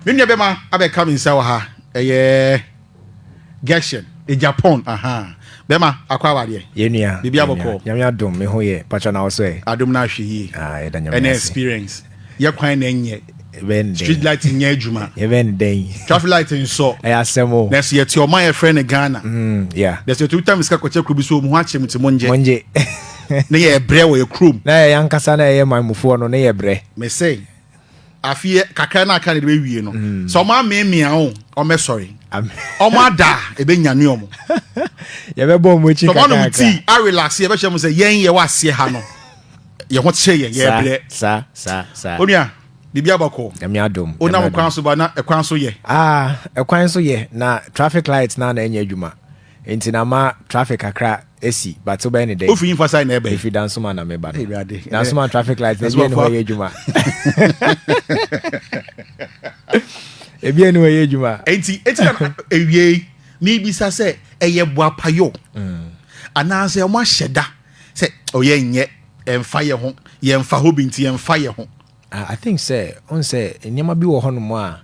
Me nua bɛma abɛka me nsa wɔ ha ɛyɛ Gershon Japan ahaa bɛma akɔ awadeɛ yɛn nua biribi abɔkɔɔ nyame adom me ho yɛ patwa na ɔsɔ ɛ adom na ahwɛ yie ah, yɛda nyame ɛna experience yɛ kwan na ɛnyɛ street light nyɛ adwuma yɛbɛn dɛn traffic light nsɔ ɛyɛ asɛm o na ɛsɛ yɛte ɔman yɛfrɛ no ghana mm, yeah. na ɛsɛ yɛtumi tam sika kɔkyɛ kuro bi so ɔmu ho akyerɛ mu te mongye mongye ne yɛ brɛ wɔ yɛ kurom na yɛ yankasa na yɛyɛ man mufoɔ no ne yɛ brɛ mesɛ afeɛ kakra no aka no de bɛwie no mm. sɛ ɔma ameemea o ɔmɛsɔre ɔma ada a ɛbɛnyane ɔmo yɛbɛbɔ ɔmo akyi kakra ɔmo ti arelase yɛbɛhyɛ mo sɛ yɛn yɛwɔ aseɛ ha no yɛn ho kyerɛ yɛn yɛbrɛ saa saa saa onua biribi abakɔ ɛmi adom onam kwan so ba na ɛkwan so yɛ ah ɛkwan so yɛ na traffic light na na ɛnyɛ adwuma nti na ma traffic kakra Esi, but so bɛyɛ ne dɛn. Ofiri nfa side na ɛbɛn. Efiri Dansoma na me ba no. Dansoma traffic light na ebien hɔ yɛ adwuma. Ebien hɔ yɛ adwuma. Eti eti na ewie yi mibisa sɛ ɛyɛ boapayɔ mm. anaasɛ wɔn ahyɛ da sɛ ɔyɛ nyɛ ɛnfa yɛ ho yɛnfa hɔ bi nti yɛnfa yɛ ho. I I think sɛ wohu sɛ nneɛma bi wɔ hɔ nom a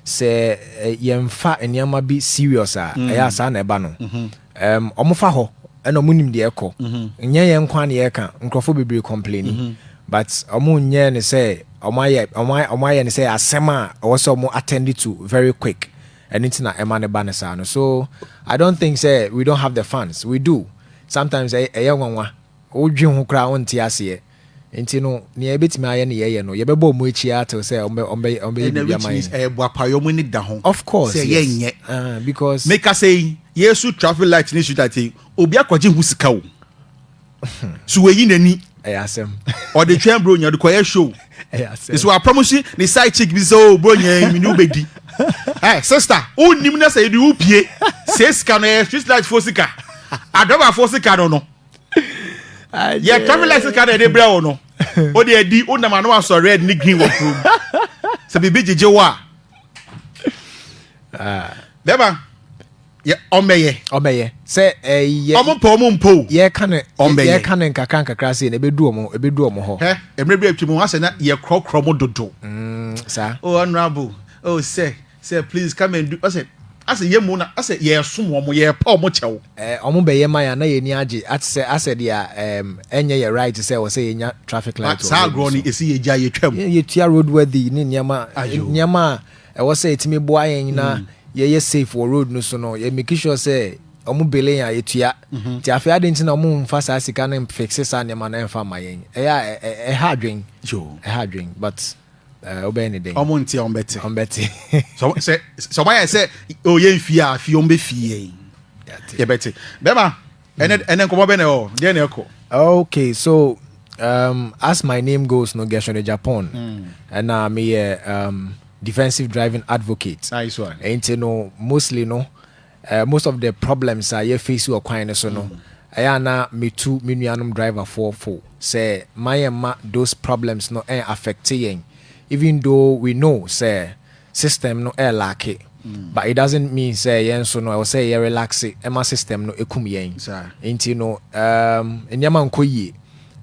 sɛ yɛnfa nneɛma bi serious a mm. ɛyɛ saa na ɛba no mm-hmm. ɔmo fa hɔ ɛna ɔmo nim deɛ ɛkɔ mm-hmm. nyɛ yɛn nkwa na yɛka nkurɔfoɔ bebree complaini mm-hmm. but ɔmo nyɛ ne sɛ ɔmo ayɛ ɔmo ayɛ ne sɛ asɛm a ɔwɔ sɛ ɔmo attend to very quick ɛno nti na ɛma ne ba ne saa no so i don't think sɛ we don't have the funds we do sometimes ɛyɛ nwanwa wodwe ho koraa wonte aseɛ Nti no, nea yɛbɛtumi ayɛ ne yɛyɛ no, yɛbɛbɔ wɔn akyi ara till sɛ wɔbɛyɛ biribi ama yɛn. Ɛna ɛyɛ boapayɔ, wɔn ani da ho. Of course, yes. Sɛ yɛnyɛ. Because. Mekasa yi, Yesu traffic light ne street light yi, obi akɔgye ho sika o. So wɔayi n'ani. Ɛyɛ asɛm. Ɔde twɛn bronya, ɔde kɔyɛ show. Ɛyɛ asɛm. So apam si ne side chick bi sɛ o oh, bronya yi, mi ni wobɛdi. Ɛ sista, o nim na sɛ yɛde o pie, sɛ sika no yɛ street light fo sika, adrɔba fo sika no no. yɛ traffic license card ɛde brɛ wo no o de ɛdi o nam ano asɔ red ne green wɔ kurom sɛ biribi gyegye wo a ah. bɛma yɛ ɔmɛyɛ ɔmɛyɛ sɛ ɛyɛ eh, ɔmo pɛ ɔmo mpo yɛka ne ɔmɛyɛ yɛka ne nkakra nkakra se na ebedu ɔmo ebedu ɔmo hɔ ɛ ɛmɛ bi atwa mu asɛ na yɛ korɔkorɔ mo dodo mm, saa o oh, honourable o oh, sɛ. Sɛ please come and do ɔsɛ asɛ yɛ mo na ɔsɛ yɛ som wɔn yɛ pa wɔn kyɛw. Eh wɔn bɛ yɛ ma yɛn na yɛ ani agye ate sɛ asɛ deɛ ehm ɛnyɛ yɛ right sɛ ɔsɛ yɛ nya traffic light wɔ road no so. Esi yɛ gyae yɛ twam. Yɛ yɛ tua road worthy ne nneɛma nneɛma a ɛwɔ sɛ ɛtumi boa yɛn na yɛ yɛ safe wɔ road no so no yɛ make sure sɛ wɔn bill yɛn a yɛ tua nti afei adeɛ nti na wɔn nfa saa sika no nfixe saa nneɛma no ɛnfa mma yɛn ɛyɛ a ɛha adwen ɛha adwen but. Eh, wobɛyɛ ne dɛn? Ɔmo nte a ɔmo bɛte. Ɔmo bɛte. Sɛ sɛ ɔmo ayɛ sɛ o yɛ nfi a afi ɔmo bɛ fi yɛ yi. Yɛ bɛte. Bɛma ɛnɛ hmm. ɛnɛ nkɔmɔ bɛ na ɛwɔ deɛ na ɛkɔ. Okay so um, as my name goes no Gershon de Japan ɛna hmm. meyɛ um, defensive driving advocate. Nice one. Ɛnti no mostly no. Eh, most of the problems a yɛ face wɔ kwan no so no, ɛyɛ a na metu me nuanom driverfoɔ fo sɛ ma yɛn mma those problems no ɛn affect yɛn even though we know sɛ system no ɛyɛ laake but it doesn't mean sɛ yɛn nso no ɛwɔ sɛ yɛ relaxe ɛma system no ɛkum yɛn. Nti no, um, nneɛma nkɔ yie.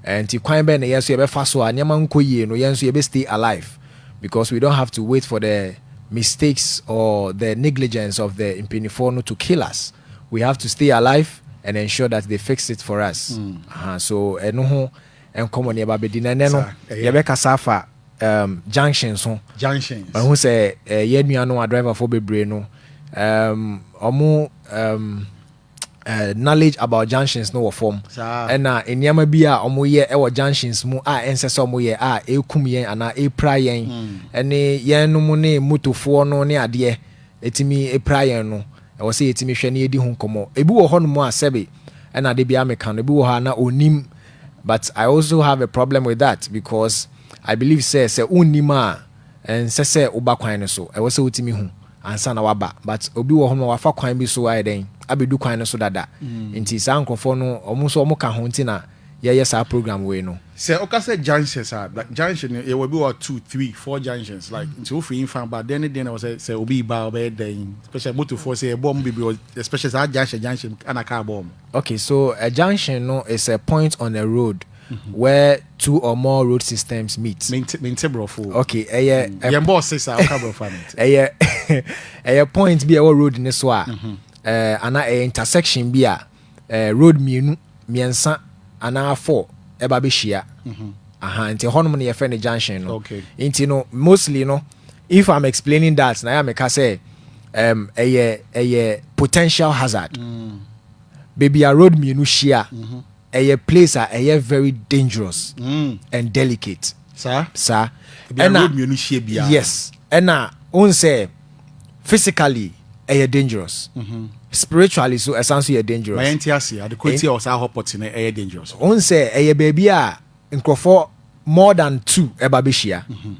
Ɛnti kwan bɛn na yɛn nso yɛbɛfa so a nneɛma nkɔ yie no yɛn nso yɛbɛ stay alive because we don't have to wait for the mistakes or the negligence of the mpaninfoɔ no to kill us we have to stay alive and ensure that they fix it for us mm. uh, so ɛno ho nkɔmɔ ne yɛba bɛdi na ɛnɛ no yɛbɛkasa afa um, junction so junctions mahu sɛ uh, eh, yɛn nua no a driverfoɔ bebree no um, ɔmo um, uh, knowledge about junctions no wɔ fam ɛna nneɛma bi a wɔyɛ wɔ junctions mu a ɛnsɛ sɛ wɔyɛ a ɛkum yɛn anaa ɛpira yɛn hmm. ne yɛn no mu ne motofoɔ no ne adeɛ ɛtumi ɛpira yɛn no ɛwɔ sɛ yɛtumi hwɛ ne yɛdi ho nkɔmmɔ ebi wɔ hɔ nom a sɛbe ɛna de bia meka no ebi wɔ hɔ a na ɔnim but i also have a problem with that because i believe sɛ sɛ wonnim a ɛnsɛ sɛ woba kwan no so ɛwɔ sɛ wotumi hu ansa na waba but obi wɔ hɔ ma wafa kwan bi so ayɛ dɛn abɛdu kwan no so dada nti saa nkorɔfoɔ no ɔmo nso ɔmo ka ho nti na yɛyɛ saa program wei no. Sɛ woka sɛ junctions a, junction no yɛwɔ bi wɔ hɔ a two, three, four junctions like nti wofiri yi fa ba dɛn ne dɛn na ɛwɔ sɛ sɛ obi reba a ɔbɛyɛ dɛn especially motofoɔ sɛ yɛbɔ ɔmo bebree wɔ especially saa junction junction a na car bɔ ɔmo. Okay so a junction no is a point on a road where two or more road systems meet. Mente mente brofo. Okay, ɛyɛ yɛn bɔ ɔse sa ɔka brofo ante. Ɛyɛ ɛyɛ point bi ɛwɔ road ne so a mhm. eh, ana ɛyɛ intersection bi a eh, road mmienu mmiɛnsa anaa four ɛba bɛhyia. Mhm. Aha nti hɔnom no yɛfrɛ no junction no. Okay. Nti no mostly no if I'm explaining that na yɛ meka sɛ um, ɛyɛ ɛyɛ potential hazard. Mm. Baabi a road mmienu hyia. Mm -hmm. Ɛyɛ place a ɛyɛ very dangerous and delicate saa saa ɛna road mmienu hyia biara yes ɛna ohun sɛ physically ɛyɛ dangerous mhm. spiritually so ɛsan so yɛ dangerous. Ma yɛn ti ase adekoa ti a ɔsan hɔ pɔtene ɛyɛ dangerous. Ohun sɛ ɛyɛ baabi a. nkurɔfoɔ more than two ɛba bɛhyia mhm.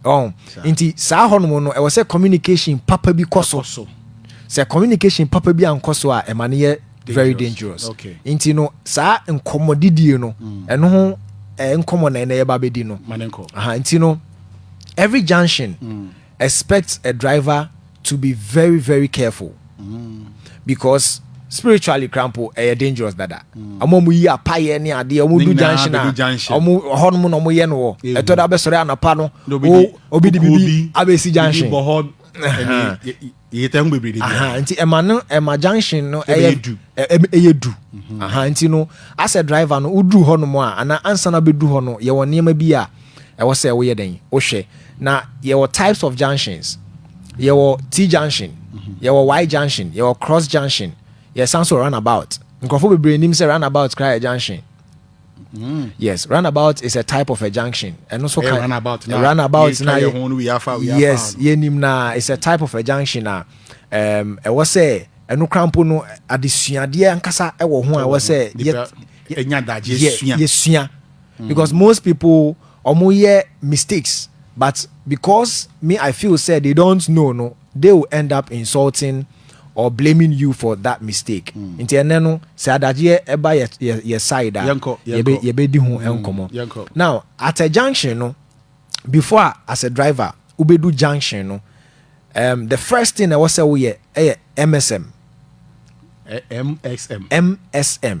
ɔn nti saa hɔ nom no ɛwɔ sɛ communication papa bi kɔ so sɛ communication papa bi ankɔ so a ɛma no yɛ very dangerous nti no saa nkɔmmɔ didie no mm. ɛno ho nkɔmmɔ na ɛnɛ yɛba bɛdi no nti no every junction mm. Expect a driver to be very very careful because spiritually koraa mpo ɛyɛ dangerous dada ɔmo a ɔmo yi apayɛ ne adeɛ ɔmo du junction a ɔmo hɔ nom na ɔmo yɛ no wɔ ɛtɔ da abɛsɔre anapa no obi de bibi abɛsi junction Yɛ tɛ ho bebree de bi. Nti ɛma no ɛma junction no ɛyɛ du. Ɛyɛ du. Mhm. Nti no asɛ driver no woduru hɔ nom a anaa ansa na bɛdu hɔ no yɛwɔ nneɛma bi a ɛwɔ sɛ woyɛ dɛn wohwɛ na yɛwɔ types of junctions yɛwɔ T junction mhm. yɛwɔ Y junction yɛwɔ cross junction yɛsan so runabout nkurɔfoɔ bebree nim sɛ runabout koraa yɛ junction Mm. Yes, runabout is a type of a junction. And also kind runabout. Now, runabout now. Yes, yenim na it's a type of a junction na. Um, I was say ɛno krampo no adesuadeɛ ankasa ɛwɔ ho a ɛwɔ sɛ yɛsua mm. because most people ɔmo yɛ mistakes but because me I feel say they don't know no they will end up insulting. or blaming you for that mistake mm. nti ɛnɛ no sɛ adagyeɛ ɛba yɛ, yɛ, yɛ side a yɛbɛdi ho mm. nkɔmmɔ mm. now at a junction no before a as a driver wobɛdu junction no um, the first thing ɛwɔ sɛ woyɛ ɛyɛ msm msm msm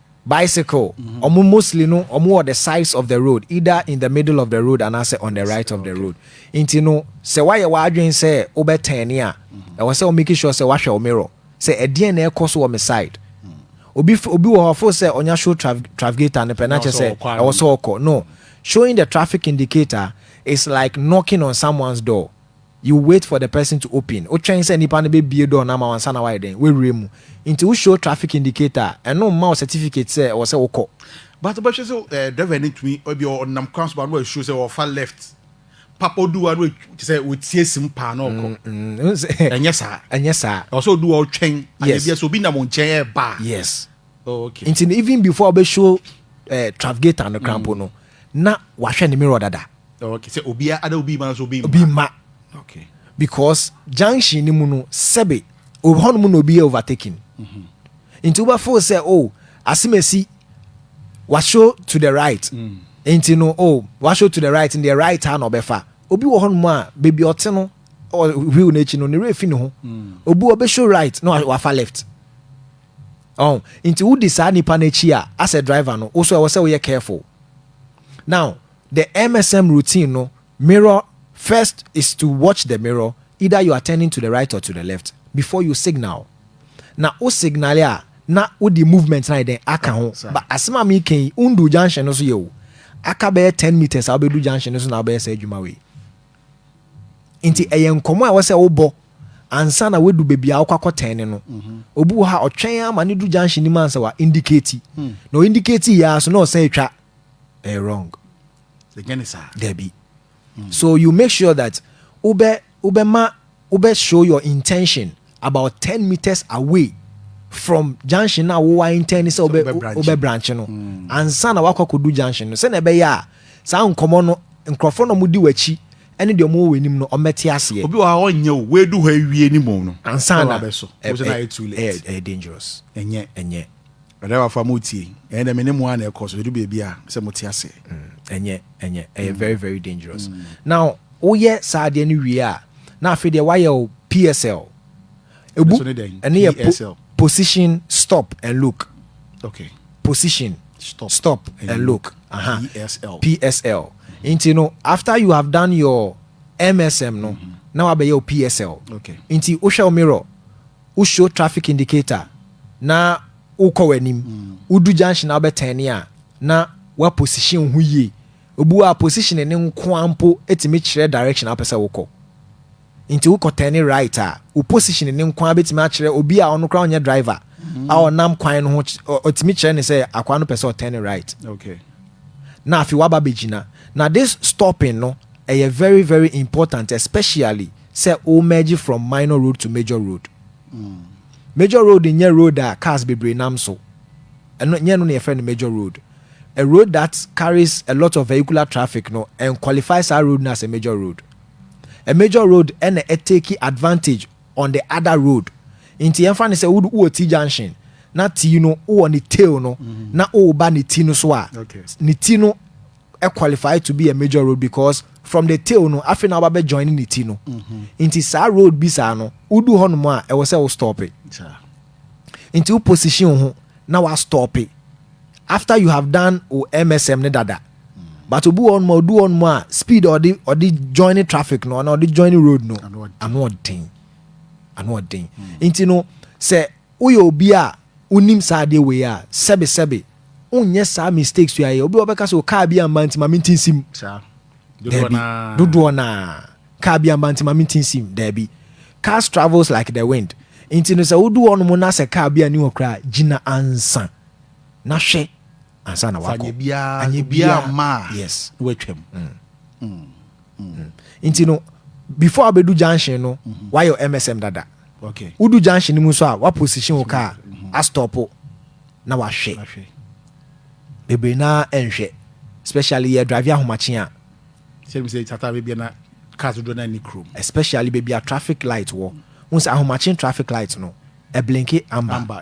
Bicycle, wɔn mostly no wɔn wɔ the sides of the road, either in the middle of the road anaasɛ on the right of the road. Nti no sɛ woayɛ w'adwene sɛ wobɛ turn a, ɛwɔ sɛ wo make sure sɛ woahwɛ wo mirror sɛ ɛdeɛn na ɛrekɔ so wɔ me side. Obi f obi wɔ hɔ ɔfo sɛ ɔnya show traf trafficator no pɛ na kyerɛ sɛ ɛwɔ sɛ ɔkɔ. No, showing the traffic indicator is like knocking on someone's door. You wait for the person to open, wotwɛn sɛ nipa no bɛbue door no ama wo ansa na woayɛ dɛn? Woawura mu. Nti wo show traffic indicator a, ɛno mma wo certificate sɛ ɛwɔ sɛ wokɔ. But wobɛhwɛ sɛ eh, driver no ntumi, ebia ɔnam kwan so ba na wa show sɛ ɔfa left, pap ɔdu hɔ a na wa, te sɛ ɔtie sim paa na ɔkɔ. Mm-mm. Ɛnyɛ saa. Ɛnyɛ saa. Ɛwɔ sɛ ɔdu hɔ a ɔtwɛn, anaa Yes. ebia sɛ obi nam wo nkyɛn ɛreba a, Yes. Oh, okay. Nti no even before ɔbɛ show eh, Travgator no krampo mm. no, na wahwɛ ne mirror dada. Oh, okay. Sɛ obi ada obi ma nso obi mma. Obi mma. Okay. Because junction ni mu no sɛbe hɔ nom na obi yɛ overtaking. Mm -hmm. Nti wobɛ feel sɛ oh asemesi washow to the right. Mm. Nti no oh washow to the right in the right a na ɔbɛfa. Obi wɔ hɔ nom a baabi ɔte no wheel n'akyi no ne werɛ fi ne ho. Mm. Obi ɔbɛ show right na wafa left. Ɔho? Nti wodi saa nipa no akyi a, as a driver no, wo so ɛwɔ sɛ woyɛ careful. Now, the MSM routine no, mirror, first is to watch the mirror, either you are turning to the right or to the left, before you signal. Na wo signal a, na wode movement no ayɛ dɛn? Aka ho. But asem a meka yi, wondu junction no so yɛ o. Aka bɛyɛ ten metres a wobɛdu junction no so na wobɛyɛ saa adwuma wei. nti ɛyɛ nkɔmmɔ a ɛwɔ sɛ wobɔ ansa na woadu baabi a wokɔ akɔtɛn ne no mhm. obi wɔ hɔ a ɔtwɛn a ma ne du junction nim ansa wa indicate hmm. na o indicate yɛ aso na ɔsan atwa ɛyɛ wrong dabi hmm. so you make sure that wobɛ wobɛma wobɛ show your intention about ten meters away from junction na wo wa intend sɛ wobɛ wobɛ branch no hmm. ansa na wakɔ akɔdu junction no sɛ na ɛbɛyɛ a saa nkɔmɔ no nkurɔfoɔ na wɔn di w'akyi ɛne deɛ wɔn wɔ w'anim no wɔn bɛte aseɛ. obi wɔ ha ɔnyɛ o w'edu hɔ ewie ne mu no. ansa na ɛɛ ɛɛ dangerous. ɛnyɛ ɛnyɛ. M'adawafo a moretie, ɛyɛ dɛ me ne mo ara na ɛkɔ so, edu baabi a, me sɛ mote ase. Ɛnyɛ, ɛnyɛ, ɛyɛ very very dangerous. Now, woyɛ saa adeɛ no wie a, na afei deɛ woayɛ wo PSL. Ebu, Ɛno nso ne dɛn? ɛno yɛ po, PSL. position, stop and look. Okay. Position, Stop stop and and look. look. Aha. PSL. PSL. Nti no, after you have done your MSM no, na wabɛyɛ wo PSL. Okay. Nti wohwɛ wo mirror, wo show traffic indicator na wokɔ w'anim, wodu junction a wobɛtɛne a na woaposition wo ho yie. Obi wɔ hɔ a positioning no nko ara mpo tumi kyerɛ direction a wopɛ sɛ wokɔ. Nti wokɔ tɛne right a, wo positioning no nko ara bɛtumi akyerɛ obi a ɔno koraa ɔnyɛ driver a ɔnam kwan no ho, ɔtumi kyerɛ no sɛ akwaa no pɛ sɛ ɔtɛne right. Na afei woaba abɛgyina. Na this stopping no, ɛyɛ very very important especially sɛ wo merge from minor road to major road. Major road nyɛ road a cars bebree nam so. Ɛno nyɛ ɛno na yɛfrɛ no major road. A road that carries a lot of vehicular traffic no ɛn qualify saa road no as a major road. A major road ɛna ɛ take advantage on the other road. Nti yɛmfa no sɛ wo wɔ T junction na T no wowɔ ne tail no na woreba ne ti no so a, ne ti no qualify to be a major road because from the tail no afei na wabɛ join ne ti no mhm. nti saa road bi saa no wodu hɔ nom a ɛwɔ sɛ wo stope nti wo position ho na wa stope after you have done wo msm ne dada mm. but obi wɔ nom a odu hɔ nom a speed ɔde ɔde join traffic no ɔna ɔde join road no ano ɔden ano ɔden mm. nti no sɛ Woyɛ obi a wonim saa adeɛ wei a, sɛbe sɛbe wonyɛ saa mistakes wei a yɛ. Obi wɔ hɔ ɔbɛka sɛ o car bi amma nti ma mente nsim. Saa. Dodoɔ Daabi, naa. dodoɔ no ara. Car bi amma nti ma mente nsim. Daabi. Cars travels like the wind. Nti no sɛ wodu hɔnom na sɛ car bi anni hɔ koraa a, gyina ansa na hwɛ ansa na Fa woakɔ. nyɛ biara, Anyɛ obiara biara. amma a, Yes. na woatwam. Nti no before a wobɛdu junction no, woayɛ wo MSM dada. Wodu junction no mu nso a, woaposition wo kaa astɔpo na wahwɛ. Bebree no ara ɛnhwɛ, especially yɛ drive ahomakye a. Especially baabi a traffic light wɔ. Wohu sɛ ahomakye traffic light no, ɛblinke amber.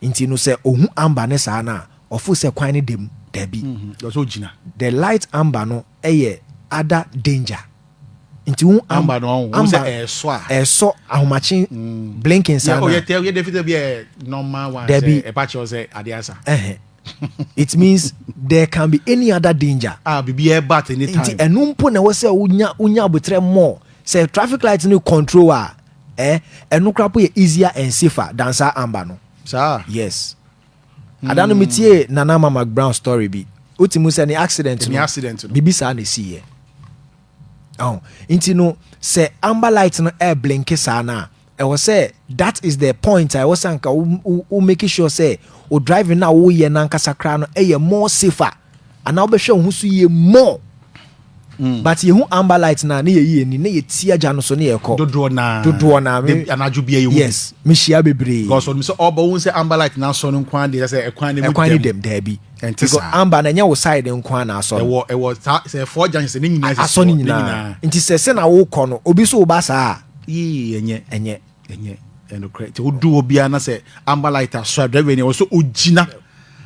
Nti no sɛ ɔhu amber ne saa no a, ɔfo sɛ kwan no da mu. Dabi. Mm-hmm. The light amber no yɛ other danger. nti wo amba no ɔn amba sɛ ɛsɔ a ɛsɔ ahomakye mm. blinking saa na ɔyɛ tɛ ɔyɛ dɛ fitɛ bi ɛ normal one sɛ ɛba kyɛw sɛ ade asa ɛhɛn it means there can be any other danger ah bibi ɛba at any time nti ɛnu mpo na ɛwɔ sɛ wonya wonya abotire mɔ sɛ traffic light no control a ɛ ɛnu kora po yɛ easier and safer than saa amba no saa yes Ada no metiee Nana Ama McBrown story bi. Wote mu sɛ ne accident no, biribi saa na ɛsiiɛ. Oh, nti no sɛ amber light no air blinke saa no a ɛwɔ sɛ that is the point a ɛwɔ sɛ anka wo make sure sɛ o driving no a woyɛ no ankasa koraa no ɛyɛ more safer anaa wobɛhwɛ wo ho so yie more hmm. but yɛhu amber light no a ne yɛyi ani na yɛti agya no so ne yɛkɔ dodoɔ naa dodoɔ naa me anadwo bia yɛhu yes mehyia bebree because ɔnim sɛ ɔba wohu sɛ amber light no asɔ no nko ara deɛ sɛ ɛkwan ne mu ɛkwan ne dɛm daabi ɛnti saa amber na ɛnyɛ wo side nko ara na asɔ no ɛwɔ ɛwɔ saa sɛ ɛfɔ agya sɛ ne nyinaa asɔ ne nyinaa nti sɛ sɛ na wokɔ no obi so woba saa yii ɛnyɛ ɛnyɛ Ɛnyɛ ɛnokorɛ nti wodu hɔ biara na sɛ amber light aso a driver ni ɛwɔ sɛ ogyina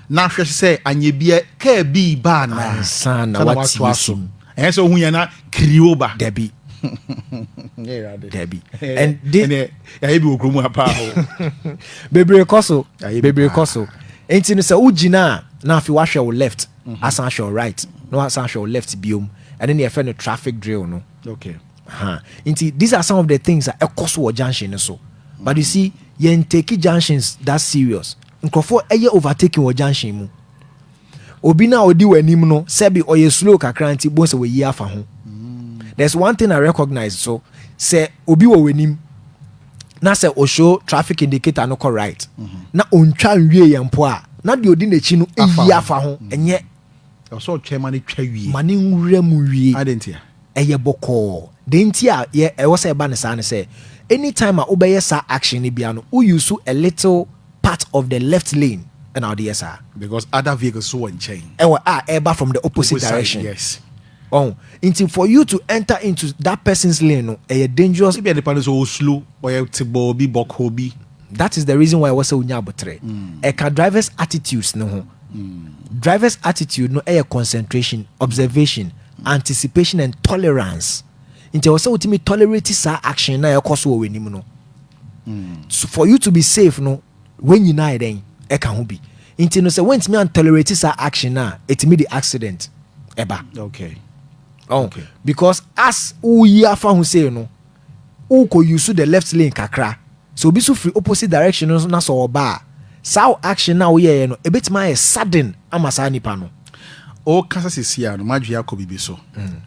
na ahwɛ sɛ anyɛ bi kaa bi ba anaa ansa na watu aso ɛyɛ sɛ ohun yɛn na kiriwo ba dabi dabi ɛnde ɛyɛ bi wɔ kurom ha paa o bebree kɔ so bebree kɔ so nti no sɛ wogyina a na afei wahwɛ wo left mhm. asan ahwɛ wo right na wasan ahwɛ wo left biom ɛne ne yɛfɛ no traffic drill no okay Ha, nti these are some of the things a ɛkɔ so wɔ junction no so. But you see, yɛn take junctions that serious. Nkurɔfoɔ ɛyɛ overtaking wɔ junction mu. Obi na odi w'anim no, sɛbi ɔyɛ slow kakra nti bon sɛ wɔyi afa ho. There's one thing I recognize so, sɛ obi wɔ w'anim na sɛ o show traffic indicator no kɔ right, na ontwa nwie yɛn mpo a, na deɛ odi n'akyi no eyi afa ho, ɛnyɛ Ɛwɔ sɛ ɔtwɛn ma no twa wie. Ma ne nwura mu wie. Adɛn ntia? Ɛyɛ bɔkɔɔ. Deɛ nti a yɛ ɛwɔ sɛ ɛba no saa ne sɛ, anytime a wobɛyɛ saa action no biara no, wo use a little part of the left lane ɛna wode yɛ saa. Because other vehicles nso wɔ nkyɛn. Ɛwɔ a ɛreba from the opposite direction. Opposite side, yes. Ɔho nti for you to enter into that person's lane no ɛyɛ dangerous. Ebia nipa no so ɔwɔ slow, ɔyɛ tebɔɔ bi, bɔkɔɔ bi. That is the reason why ɛwɔ sɛ wonya aboterɛ. Ɛka drivers attitudes no ho. Drivers attitude no ɛyɛ concentration, observation, anticipation and tolerance. Nti ɛwɔ sɛ wotumi tolerate saa action no a ɛrekɔ so wɔ w'anim no. For you to be safe no, Wei nyinaa yɛ dɛn? Ɛka ho bi. Nti no sɛ woantumi antolerate saa action no a, ɛtumi de accident ɛba. Okay. Oh, okay. Because as woyi afa ho sei no, wokɔ use the left lane kakra. Sɛ obi so firi opposite direction no na sɛ ɔba a, saa action no a woyɛeɛ no, ɛbɛtumi ayɛ sudden ama saa nipa no. Ɔka sɛ sesia no, madwe akɔ bibi so. Mm.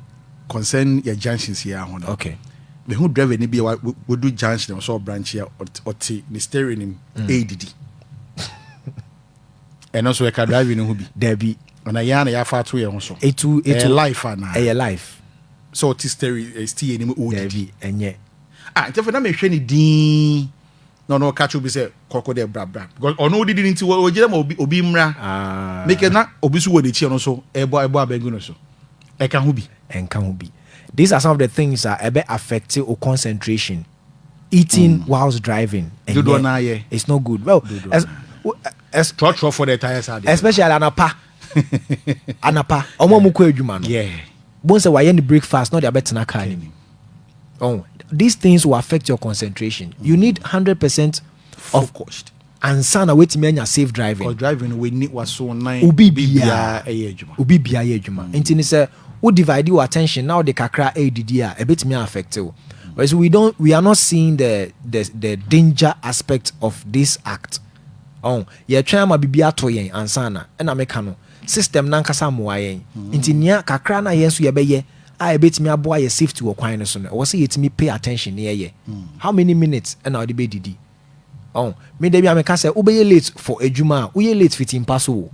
Concern yɛ junctions yi ara ho no. Okay. Me hu driver ni bi a wadu junction a ɔsɔ branch a ɔte ne steering nim mm. ɛredidi. Ɛno nso ɛka driving no ho bi. Dabi. Ɔna yɛn a na yɛafa ato yɛn ho so. Etu etu. Ɛyɛ life ana. Ɛyɛ life. Sɛ ɔte steering eh, steering nim ɔredidi. Dabi ɛnyɛ. Ah ntɛfɛ na mehwɛ ne din na ɔno ɔka kyerɛ obi sɛ kɔkɔ dɛ bra bra because ɔno odidi no nti ɔgyina ma obi obi mmra ah. mekɛ na obi so wɔ n'akyi ɔno so ɛbɔ ɛbɔ abɛngu no so ɛka ho bi ɛnka ho bi these are some of the things a ɛbɛ affect o concentration eating mm. whilst driving dodoɔ no ayɛ it's not good well as, as, trɔtrɔ for the tires are there especially anapa anapa ɔmo ɔmo kɔ adwuma no bon sɛ wayɛ ne breakfast na ɔde abɛtena car no mu oh, these things will affect your concentration you need hundred percent focused ansa na wetumi anya safe driving or driving no w'ani w'aso nan obi biara ɛyɛ adwuma obi biara yɛ adwuma mm. nti ne sɛ wo divide your attention na ɔde kakra ɛredidi a ɛbɛtumi affect wo so we don't we are not seeing the the the danger aspect of this act. Ɔho, yɛtwɛn ama biribi ato yɛn ansa na, ɛna meka no, system no ankasa mmoa yɛn. Nti nea kakra no a yɛn nso yɛbɛyɛ a ɛbɛtumi aboa yɛ safety wɔ kwan no so no, ɛwɔ sɛ yɛtumi pay attention na yɛyɛ. How many minutes ɛna wode bɛdidi? Ɔho, me da bi a meka sɛ, wobɛyɛ late for adwuma a, woyɛ late fiti mpa so o.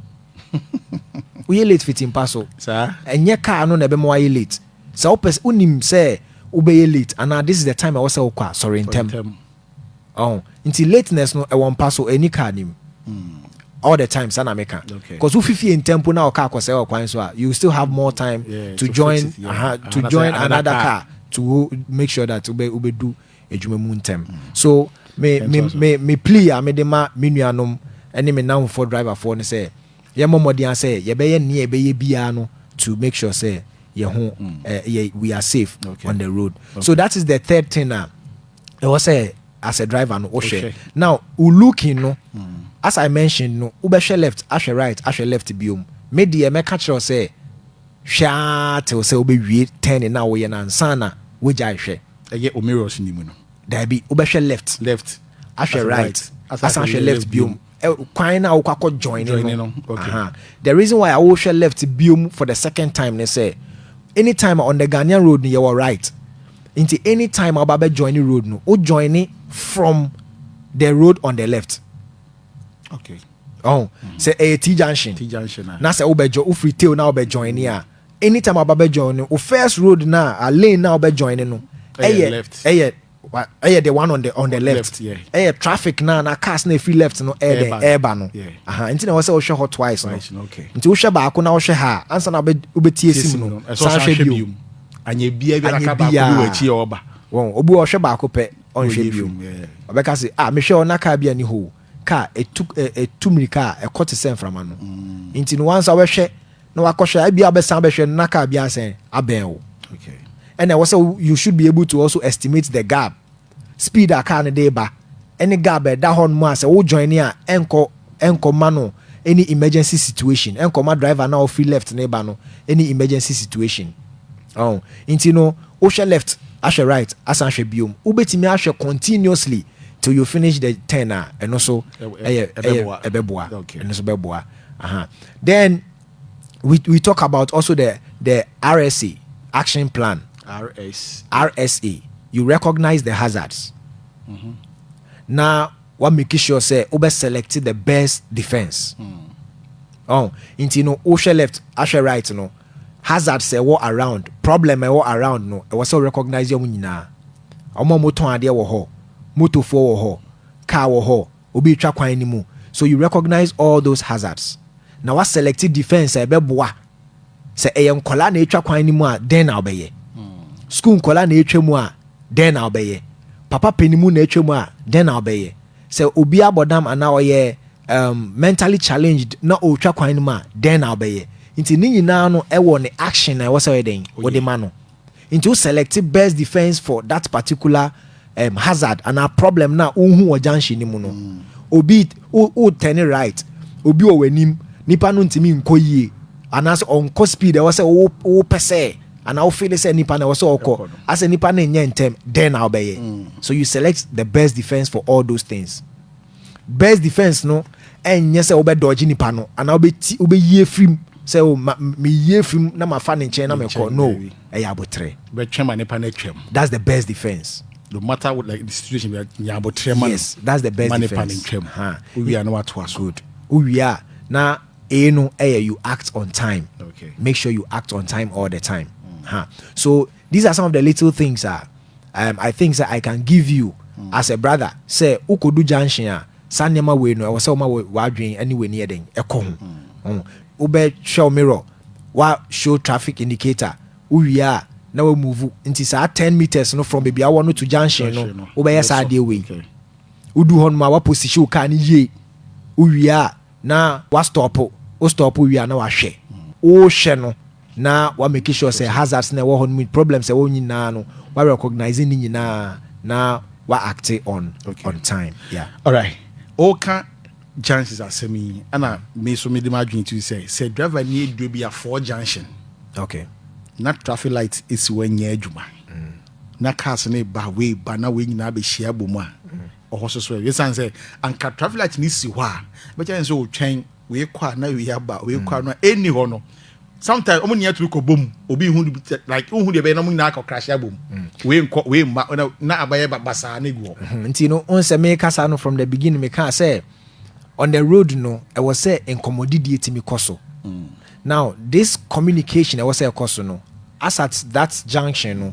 Woyɛ late fiti mpa so. Saa. Ɛnyɛ car no na ɛbɛma woayɛ late. Sɛ wopɛ, wonim sɛ wobɛyɛ late anaa this is the time a ɛwɔ sɛ wokɔ a, sɔre ntɛm. Ntɛm. ɔho nti lateness no ɛwɔ mpa so ɛni car nim all the time saa na meka okay. cause wofi fie ntɛm mpo na ɔka akɔsɛe ɔkwan so a you still have more time yeah, to, to join it, yeah. uh -huh, to another, join another, another car. car to make sure that ube ubedu adwuma mu ntɛm mm. so me me me me plea a mede ma me nuanom ne me namfoɔ driverfoɔ no sɛ yɛmmɔ mmɔden a sɛ yɛbɛyɛ nea ɛbɛyɛ biara no to make sure sɛ yɛ ho mm. eh, we are safe okay. on the road okay. so that is the third thing a uh, ɛwɔ sɛ as a driver no wohwɛ now wo looking no mm. as i mentioned no wobɛhwɛ left ahwɛ right ahwɛ left biom me deɛ mɛka kyerɛw sɛ hwɛ aa tew sɛ wobɛwie ten na woyɛ no ansa na wogyae hwɛ ɛyɛ omirus ni mu no daabi wobɛhwɛ left left ahwɛ right asan ahwɛ left biom Eh, kwan na wokɔ akɔ join no no okay. uh-huh. the reason why awohwɛ left biom for the second time ne sɛ anytime on the ghanaian road no yɛwɔ right nti anytime a wobɛbɛ join ne road no wo join ne from the road on the left okay. oh, mm-hmm. sɛ ɛyɛ t junction t junction ah. na sɛ wobɛjɔ wofiri tail na wobɛ join ne a anytime a wobɛbɛ join no wo first road na a lane na wobɛ join no ɛyɛ ɛyɛ ɛyɛ the one on the on the left ɛyɛ traffic na na cars na efiri left no ɛyɛ dɛ ɛɛba no aha nti na ɛwɔ sɛ wohwɛ hɔ twice no nti wohwɛ baako na wohwɛ ha ansa na wobɛtie sim no san hwɛ bio anyɛ bia bi anaka baako bi wɔ akyi ɔba wɔn obi ɔhwɛ baako pɛ ɔnhwɛ bio ɔbɛka se ah mehwɛ ɔna kaa bi ani hoo ka a etu ɛ etu mmirika a ɛkɔ te sɛ mframa no. Nti no, wansa wobɛhwɛ na wakɔhwɛ a, ebia wobɛsan abɛhwɛ no na car bi asɛn abɛn wo. Ɛna ɛwɔ sɛ wo you should be able to also estimate the gap, speed a car no de reba ne gap a ɛda hɔnom a sɛ wo join a ɛnkɔ ɛnkɔ ma no any emergency situation, ɛnkɔ ma driver no a ɔfiri left no reba no any emergency situation. Ɔho? Nti no, Wohwɛ left ahwɛ right asan ahwɛ biom, wobɛtumi ahwɛ continuously till you finish the ten a, ɛno nso ɛyɛ ɛyɛ ɛbɛboa, ɛno nso bɛboa. Aha. Then we we talk about also the the RSA action plan. RSA. RSA. You recognize the hazards. Mm -hmm. Na wa make sure sɛ wobɛ select the best defense. Mm. Oh, nti no wohwɛ left ahwɛ right no. hazards a ɛwɔ around, problem a ɛwɔ around no, ɛwɔ sɛ wo recognize wɔn nyinaa. Wɔn a wɔtɔn adeɛ wɔ hɔ, motofoɔ wɔ hɔ, car wɔ hɔ, obi retwa kwan no mu. So you recognize all those hazards. Na wa select defense a ɛbɛboa. Sɛ ɛyɛ nkɔla na ɛtwa kwan no mu a, dɛn na wobɛyɛ? School nkɔla na ɛtwa mu a, dɛn na wobɛyɛ? Papa panimu na ɛtwa mu a, dɛn na wobɛyɛ? Sɛ obi abɔ dam anaa ɔyɛ um, mentally challenged na ɔretwa kwan no mu a, dɛn na wobɛyɛ? Nti ne nyinaa no ɛwɔ ne action na ɛwɔ sɛ ɔyɛ dɛn? Wode ma no. Nti wo select best defense for that particular um, hazard anaa problem na wohu wɔ junction no mu no. Mm. Obi, wo, wo turn right, obi wɔ w'anim, nipa no ntumi nkɔ yie. anaasɛ ɔnkɔ speed a ɛwɔ sɛ wopɛ sɛ anaa wofeele sɛ nipa na ɛwɔ sɛ ɔkɔ asɛ nipa no nyɛ ntɛm dɛn na wobɛyɛ mm. so you select the best defense for all those things best defense no ɛnyɛ sɛ wobɛdɔgye nipa no anaa wobɛyi afiri mu sɛ oh, meyi afiri mu na mafa ne nkyɛn na mekɔ no ɛyɛ aboterɛ bɛtwɛm a nipa no atwam that's the best defense no matter what like the situation we are nya aboterɛ ma yes that's the best defense ma nipa no ntwam huh. wowia na watoa so good wowia na A no ɛyɛ eh, you act on time. Okay. Make sure you act on time all the time. Mm. Huh. So these are some of the little things uh, um, I think that I can give you mm. as a brother. Say ukodu junction a saa nneɛma wei no ɛwɔ sɛ woma w'adwene ne w'ani yɛ den ɛkɔ ho. Mm. Mm. Wobɛhwɛ wo mirror, wa show traffic indicator, wowie a na wa move nti saa ten meters no from baabi awɔ no to junction no wobɛyɛ saa adeɛ wei wodu hɔ nom a waposition wo car no yie wowie a na wa stop wo stop wie a na wahwɛ wohwɛ no na wa make sure sɛ hazards na ɛwɔ hɔ no mu problems ɛwɔ nyinaa no wa recognize ne nyinaa na wa act on okay. on time yeah alright ɔka junctions asɛm yi ɛna me so mede m'adwene tu sɛ sɛ driver ni aduro bi a four junction okay na traffic light esi wɔ nyɛ adwuma mm. na cars ne ba wei ba na wei nyinaa bɛhyia bɔ mu a mm. ɔhɔ so so ɛsiane sɛ anka traffic light no si hɔ a bɛkyɛ ne sɛ ɔtwɛn wei kɔ a na wei aba wei kɔ a no a ɛnni hɔ no sometimes ɔmo nyinaa tumi kɔ bom obi hu like hu deɛ bɛyɛ na ɔmo nyinaa kɔ krahyɛ abom mm. wei nkɔ wei mma na na abayɛ basaa na egu hɔ. Mhm. nti no n sɛ meka saa no from the beginning meka sɛ on the road no ɛwɔ sɛ nkɔmɔdidie tumi kɔ so mm. now this communication ɛwɔ sɛ ɛkɔ so no as at that junction no. Mm.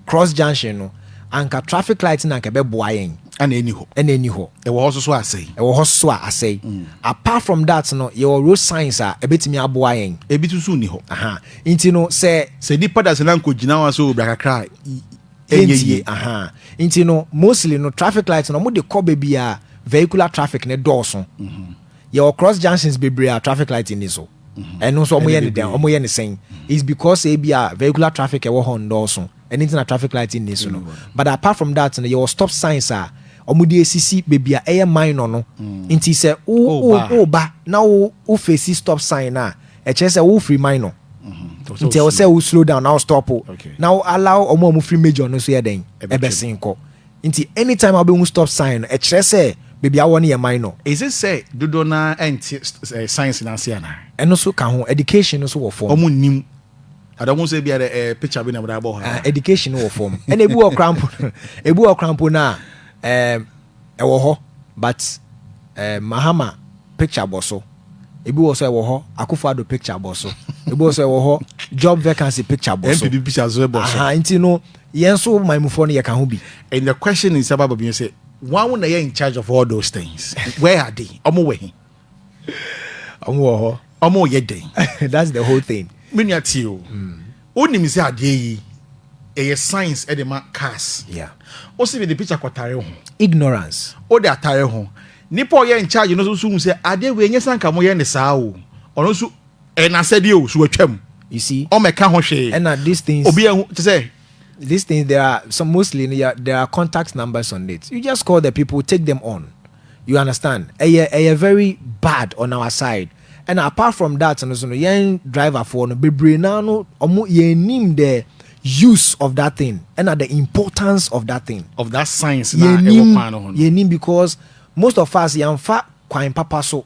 cross junction no, anka traffic light no anka ɛbɛboa yɛn. Ɛna ɛni hɔ. Ɛna ɛni hɔ. Ɛwɔ hɔ soso a asɛe. Ɛwɔ hɔ soso a asɛe. Apart from that no, yɛwɔ road signs a ɛbɛtumi aboa yɛn. Ebi soso nni hɔ. Aha. Nti no sɛ. Sɛ nipa da sɛ na nkɔgyina hɔ a sɛ ɔbra kakra a, ɛnyɛ yie. Aha. Nti no mostly no traffic light no wɔde kɔ baabi a vehicular traffic no dɔɔso. Yɛwɔ cross junctions bebree a traffic light nni so. ɛno nso wɔyɛ no dɛn wɔyɛ no sɛn is because ebi a vehicular traffic ɛwɔ hɔ nnɔɔso ɛno nti na traffic light nni so no but apart from that no yɛwɔ stop signs a wɔde asisi baabi a ɛyɛ minor no mm. nti sɛ woba na wo fesi stop sign no a ɛkyerɛ sɛ wofiri minor mm-hmm. nti ɛwɔ sɛ wo slow down na wo stop na wo allow wɔn a wɔfiri major no so yɛ dɛn ɛbɛsen kɔ Nti anytime a wobɛhu stop sign no, ɛkyerɛ sɛ baabi a wowɔ no yɛ minor. Ɛsɛ sɛ dodoɔ no ara nte science no ase anaa? Ɛno nso ka ho. Education no nso wɔ fam. Wɔn nnim. Ade a wɔn sɛ bia dɛ ɛɛ picture bi na wɔde abɔ hɔ ara. Education no wɔ fam. Ɛna ebi wɔ koraa mpo no, ebi wɔ koraa mpo no a, ɛɛm, ɛwɔ hɔ but ɛɛm, Mahama picture bɔ so. Ebi wɔ so ɛwɔ hɔ, Akufo Addo picture bɔ so. Ebi wɔ so ɛwɔ hɔ, job vacancy picture bɔ so. NPP picture nso bɔ so. Aha, nti no, Yɛn nso man mufoɔ no yɛka ho bi. And the question is about Babinyo say, wɔn na yɛ in charge of all those things. Where are they? Wɔn wɔ he? Wɔn wɔ hɔ. Wɔn yɛ dɛn? That's the whole thing. Me nua tie o. Wonim sɛ adeɛ yi ɛyɛ science ɛde ma cars. Yeah. O si mi de picture kɔtare ho. Ignorance. O de atare ho. Nipa ɔyɛ in charge no nso hu sɛ adeɛ wei nyɛ sanka mo yɛ ne saa o. Ɔno nso Ɛyɛ n'asɛdeɛ o, so watwam? You see? Ɔmmɛka ho hwee. Ɛna these things. Obi anhu, te sɛ. These things there are some mostly no, there are contact numbers on it. You just call the people, take them on. You understand? Ɛyɛ ɛyɛ very bad on our side. Ɛna apart from that no so no, yɛn driverfoɔ no bebree naa no, ɔmo yɛn nim the use of that thing ɛna the importance of that thing. Of that science na ɛwɔ kwan no ho no. Yɛn nim because most of us yɛn fa kwan papa so.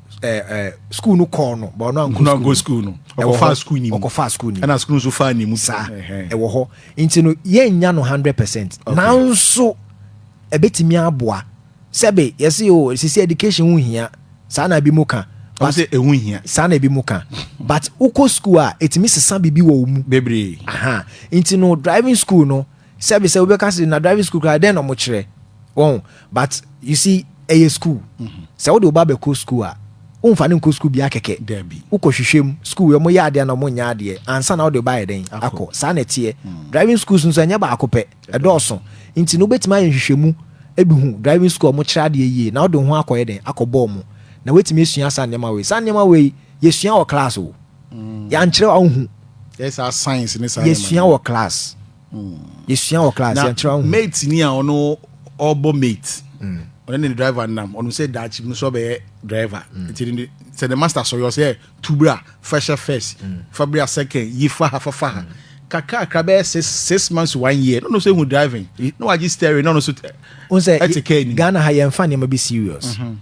school no kɔɔ no ba ɔno ankɔ school no ɔkɔfa school ni mu ɔkɔfa school ni mu ɛna school nso fa ni mu saa ɛwɔ hɔ nti no yɛn nya no hundred percent nanso ɛbɛtumi aboa sɛbe yɛsi o oh, sisi education ho hia saa na ebi mu ka but sɛ ehu hia saa na ebi mu ka but wokɔ school a etumi sesa biribi wɔ wɔn mu bebree aha nti no driving school no. Sɛbi sɛ wobɛka sɛ na driving school koraa dɛn na ɔmo kyerɛ wɔn but you see ɛyɛ school mm-hmm. sɛ wode wo ba bɛkɔ school a womfa no nkɔ school bia kɛkɛ wokɔ hwehwɛ mu school ɔmo yɛ adeɛ na ɔmo nyɛ adeɛ ansa na wode ba yɛ dɛn akɔ saa na ɛteɛ mm. driving schools nso ɛnyɛ baako pɛ ɛdɔɔso nti no wobɛtumi ayɛ nhwehwɛmu ebi hu driving school ɔmo kyerɛ adeɛ yie na wode ho akɔyɛ dɛn akɔ bɔɔl mu na woatumi asua saa nneɛma wei saa nneɛma wei yɛsua wɔ class o mm. yɛankyerɛ a wohu yɛsua wɔ class mm. yɛsua wɔ class yɛankyerɛ a wohu mate ni a ɔno ɔbɔ mate mm. ɔne ne driver nam ɔno sɛ daakye mu sɛ ɔbɛyɛ driver nti sɛ ne master sɔre ɔsɛ tubra fɛhyɛ first fabra second yi fa ha fafa ha kakrakra bɛyɛ six six months to one year n'ɔno sɛ ehu driving na wagye steering n'ɔno so ɛte kɛɛ ni. ghana ha yɛn fa nneɛma bi serious. Mm -hmm.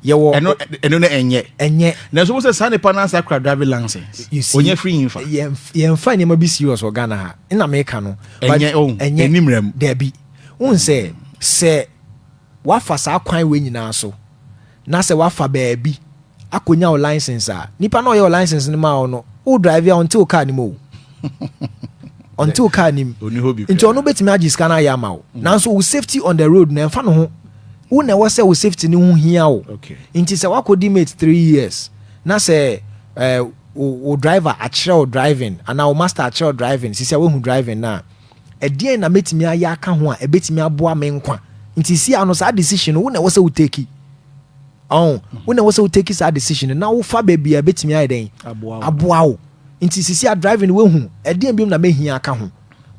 yɛwɔ ɛno ɛno no ɛnyɛ ɛnyɛ na ɛso sɛ saa nipa no asa kura driving license onye free yin fa yɛn fa nneɛma bi serious wɔ Ghana ha ɛna meka no ɛnyɛ oh ɛnyɛ ɛnimrɛ mu dɛbi n sɛ mm. sɛ wafa saa kwan wei nyinaa so na sɛ wafa baabi akɔnya wo license a nipa na ɔyɛ wo license no ma wo no wo drive a ɔnte wo car nim o ɔnte wo car nim nti ɔno bɛtumi agye sika no ayɛ ama wo mm. nanso wo safety on the road na ɛmfa no ho wo na ɛwɔ sɛ wo safety no ho hia wo nti sɛ woakɔdi mate three years na sɛ eh, wo driver akyerɛ wo driving anaa wo master akyerɛ wo driving sisi a woahu driving no a ɛdeɛn na mɛtumi ayɛ aka ho a ɛbɛtumi aboa me nkwa nti si ano saa decision no wo na ɛwɔ sɛ wo teki ɔn mhm. wo na ɛwɔ sɛ wo teki saa decision no na wofa baabi a ɛbɛtumi ayɛ dɛn aboa wo nti sisi a driving woahu ɛdeɛn biom na mɛhia aka ho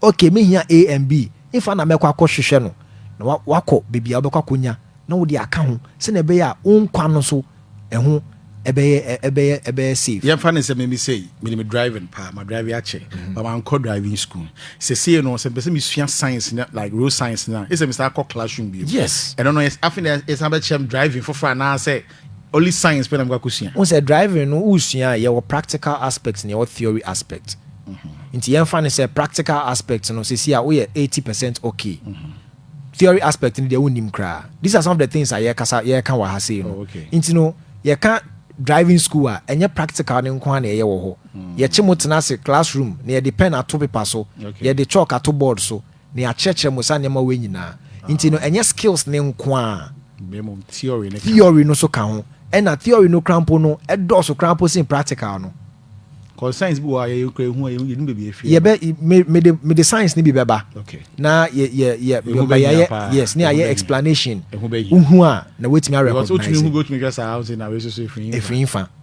Okay me hia A and B nfa na mɛkɔ akɔ hwehwɛ no na wa wakɔ baabi a wobɛkɔ akɔ nya na wode aka ho sɛnea ɛbɛyɛ a wo nkwa no so ɛho ɛbɛyɛ ɛbɛyɛ ɛbɛyɛ safe. Yɛmfa no sɛ me me sei menim driving paa ma drive akyɛ but mankɔ driving school sesei no sɛ mepɛ sɛ mesua science no like road science no a ɛsɛ sɛ mesan kɔ classroom bio Yes. ɛno no afei na yɛsan bɛkyerɛ me driving foforɔ anaasɛ Only science pɛ na mekɔ akɔsua. Wohu sɛ driving no wosua a, yɛwɔ practical aspect na yɛwɔ theory aspect. Nti yɛmfa no sɛ practical aspect no seesei a woyɛ eighty percent okay. Theory aspect no deɛ wonnim koraa. These are some of the things a yɛkasa yɛka wɔ ha sei no. Nti no yɛka driving school a, ɛnyɛ practical no nko ara na yɛyɛ wɔ hɔ. Yɛkye mo tena ase classroom na yɛde pen ato paper so, yɛde chalk ato board so, Me akyerɛkyerɛ mo saa nneɛma wei nyinaa nti no, ɛnyɛ skills no nko ara, theory no so ka ho, ɛna theory no koraa mpo no ɛdɔɔso koraa mpo sen practical no. Concerns bi wɔ a yɛyɛ kura ehu a yɛhu yɛnu baabi efi. Yɛbɛ me me de me de science ni bi bɛba. Okay. Na yɛ yɛ yɛ yɛ yɛ yes ne ayɛ explanation. Ehu bɛ yɛ. Ehu a na wetumi arecognize. Because otumi hu bi otumi hwɛ saa ɔsɛ na wei soso efiri nfa. Efiri nfa.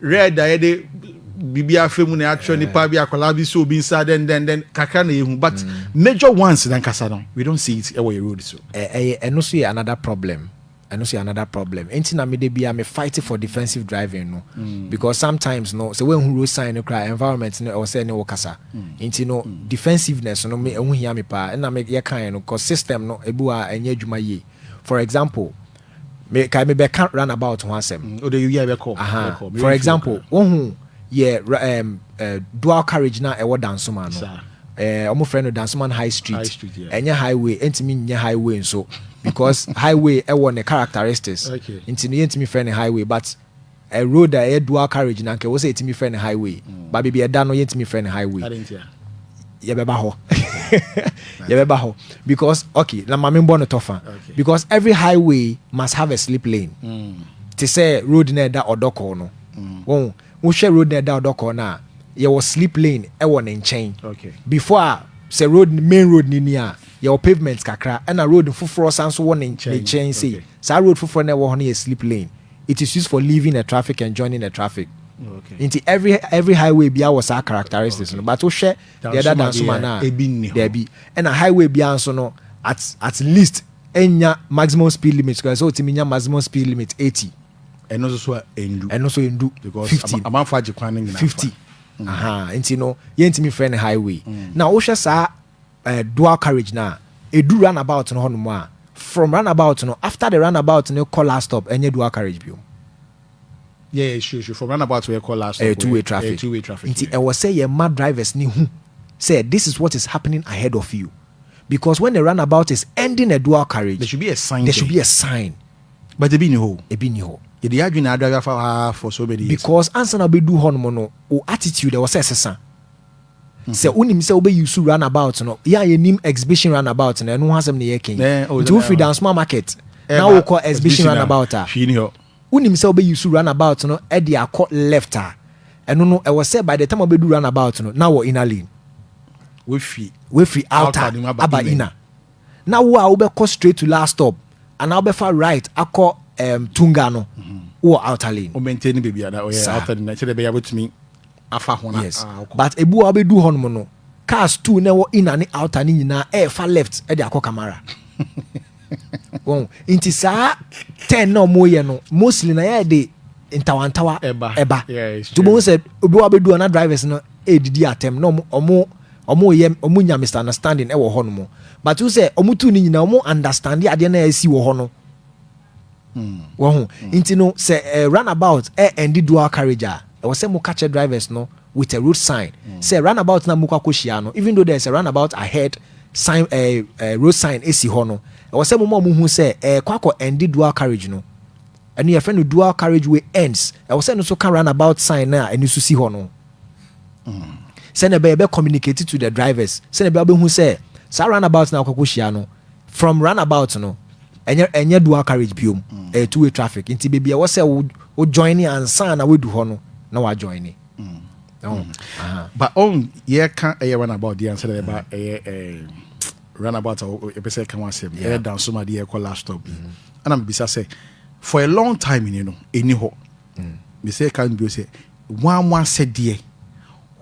Red a yɛde biribi afɛ mu na yɛakyerɛ nipa bi akwadaa bi so obi nsa dɛn dɛn dɛn kakra na yɛhu but mm. major ones nankasa no we don't see it ɛwɔ yɛ road so. ɛyɛ ɛno so yɛ another problem ɛno so yɛ another problem nti na mede bia me fight for defensive driving no mm. because sometimes no sɛ woanhu road sign no koraa environment no ɛwɔ sɛ ne wo kasa mm. nti no mm. defensiveness no me ɛho hia me paa ɛna me yɛkaeɛ no cause system no ebi wɔ a ɛnyɛ adwuma yie for example Me kae me bɛ ka run about ho asɛm. Mm, o de yɛ bɛ kɔ. Aha. For example, wohu yɛ um, uh, dual carriage na ɛwɔ Dansoma no. Eh, wɔn frɛ no Dansoman High Street. High Street yeah. Ɛnyɛ highway, ɛntumi nyɛ highway nso because highway ɛwɔ ne characteristics. Okay. Nti no yɛntumi frɛ no highway but Ɛ road a ɛyɛ dual carriage na anka ɛwɔ sɛ yɛtumi frɛ no highway ba baabi ɛda no yɛntumi frɛ no highway yɛbɛba hɔ yɛbɛba hɔ because okay na ma membɔ no tɔfa because every highway must have a slip lane mm. te sɛ road na ɛda ɔdɔkɔɔ no mm. wɔn wohwɛ road na ɛda ɔdɔkɔɔ no a yɛwɔ slip lane ɛwɔ ne nkyɛn before a sɛ road main road ni ni a yɛwɔ pavement kakra ɛna road foforɔ san so wɔ ne nkyɛn sei saa road foforɔ na ɛwɔ hɔ no yɛ slip lane it is used for leaving a traffic and joining a traffic nti every every highway bia wɔ saa characteristics no but wohwɛ deɛ ɛda dansoma no a daabi ɛna highway bia nso no at at least ɛnya maximum speed limit kora sɛ wotumi nya maximum speed limit 80 ɛno nso so a ɛndu ɛno nso ɛndu 50 amanfo agye kwan no nyinaa 50 aha nti no yɛntumi frɛ no highway mm. na wohwɛ saa eh, dual carriage no a, edu run about no hɔnom a, from run about no, after the run about no kɔ last stop, ɛnyɛ dual carriage biom. Yeah, yeah, sure, sure. From run about where kɔ last stop, ɛyɛ two way traffic. Ɛyɛ two way traffic. Nti ɛwɔ sɛ yɛ ma drivers ni hu sɛ this is what is happening ahead of you. Because when the runabout is ending a dual carriage, there should be a sign. There should be a sign. But ebi ni hɔ. Ebi ni hɔ. Yɛde yɛ adwene adwa afa ha for so many years. Because ansa na ɔbɛdu hɔ nom no, o attitude ɛwɔ sɛ ɛsesa. Sɛ wonim sɛ wobɛ use run about no, yɛ a yɛnim exhibition run about no, ɛno ho asɛm na yɛreka yi. Nti wofiri Dansoma market na wokɔ exhibition run about a, wonim sɛ wobɛ use run about no de akɔ left a, ɛno no ɛwɔ sɛ by the time wobɛdu run about no, na wɔ inner lane. Wafiri outer aba inner. Na wo a wobɛkɔ straight to last stop, anaa wobɛfa right akɔ um, Tunga no, mhm. wɔ outer lane. Wo maintain baabi a na ɔyɛ outer lane, sɛdeɛ ɛbɛyɛ a wobɛtumi afa ho na yes ah, okay. but ebu a ɔbɛdu hɔ nom no cars two na ɛwɔ ina ne outer ne nyinaa ɛɛfa left ɛde akɔ kamara wɔn nti saa ten na wɔn yɛ no mostly na yɛ de ntawantawa ɛba to bɔn sɛ obi wa bɛdu hɔ na drivers no ɛɛdidi atɛm na wɔn wɔn yɛ wɔn nya misunderstanding ɛwɔ hɔ nom but sɛ wɔn tu ne nyinaa wɔn understand adeɛ na ɛsi wɔ hɔ no. Wahu? Nti no, sɛ eh, runabout eh, ɛndi dual carriage a, ɛwɔ sɛ mo ka kyerɛ drivers no with a road sign sɛ runabout na mokɔ akɔhyia no, even though there is a runabout ahead, sign eh, eh, road sign esi hɔ no, ɛwɔ sɛ moma ɔmo hu sɛ eh, kɔ akɔ ɛndi dual carriage no. Ɛno yɛfrɛ no dual carriage way ends. Ɛwɔ sɛ ɛno nso ka runabout sign no a ɛno nso si hɔ no ho. Sɛnea ɛbɛyɛ ɛbɛ communicate to the drivers, sɛnea ɛbɛyɛ ɔbɛhu sɛ saa runabout na akɔ akɔhyia no, from run about no ɛnyɛ ɛnyɛ dual carriage biom ɛyɛ two way traffic nti beebi ɛwɔ sɛ wo wo join ne ansa na wadu hɔ no na wa join ne. ba ɔn yɛ ka ɛyɛ run about deɛ ansa na yɛ ba ɛyɛ ɛɛ run about a yɛ pɛ sɛ ɛka ho asɛm ɛyɛ danso ma deɛ ɛkɔ last stop bi ɛna mbisa sɛ for a long time ni no ɛni hɔ mbisa ɛka mbio sɛ Hwan mo asɛdeɛ?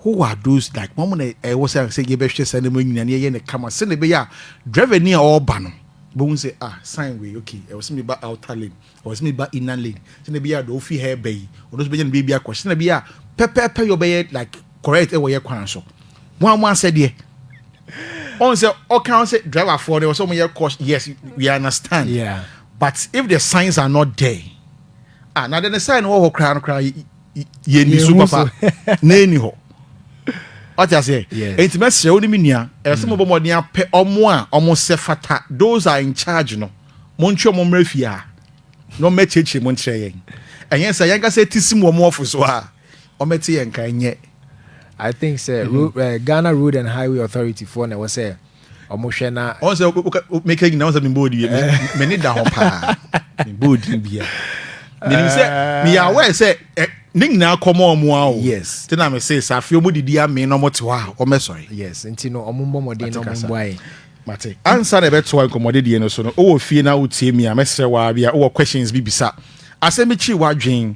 Who are those like? Wɔn na ɛwɔ sɛ sɛ yɛbɛhwɛ saa nneɛma nyinaa na yɛyɛ no kama sɛdeɛ ɛbɛyɛ a driver ni a ɔreba no bɛhu sɛ ah sign wei okay ɛwɔ sɛ meba outer lane ɛwɔ sɛ meba inner lane sɛdeɛ ɛbɛyɛ a deɛ ɔfi ha ɛbɛ yi ɔno nso bɛnya ne baabi akɔ sɛdeɛ ɛbɛyɛ a pɛpɛɛpɛ yɛ ɔbɛyɛ like correct ɛwɔ yɛ kwan so wɔn mo asɛdeɛ ɔn sɛ ɔka ɔn sɛ driver foɔ no ɛwɔ sɛ wɔn yɛ caution yes we understand yeah. but if the signs are not there. ah na de ne side no wɔ hɔ koraa no koraa yɛ ni so papa na ɛni hɔ ɔte aseɛ ɛnti mɛsrɛ wo ne me nua ɛwɔ sɛ mobɔ mmɔden apɛ ɔmo a ɔmo sɛ fata those are in charge no montwe ɔmo mmerɛ fie a na ɔmɛkyerɛkyerɛ mu nkyerɛ yɛn ɛnyɛ sɛ yɛnkasa ti si mu ɔmo ɔfo so a Wɔmmɛte yɛn nka nyɛ. I think sɛ ro eh, Ghana Road and Highway Authority foɔ na ɛwɔ sɛ wɔn hwɛ na. Wɔn sɛ meka nyina wɔn sɛ mebɔ odi bia me ne da hɔ paa mebɔ odi bia menim sɛ meyɛ aware sɛ ne nyinaa kɔmɔ ɔmo a o yes te na me se safe ɔmo didi ame na ɔmo te hɔ a ɔmo sɔre yes nti no ɔmo mbɔ mɔden na ɔmo mbɔ ayɛ mate ansa na ɛbɛtoa nkɔmmɔde deɛ no so no wowɔ fie na wotie mi a mɛsrɛ waa bi a wowɔ questions bi bisa asɛm bi kyiri w'adwen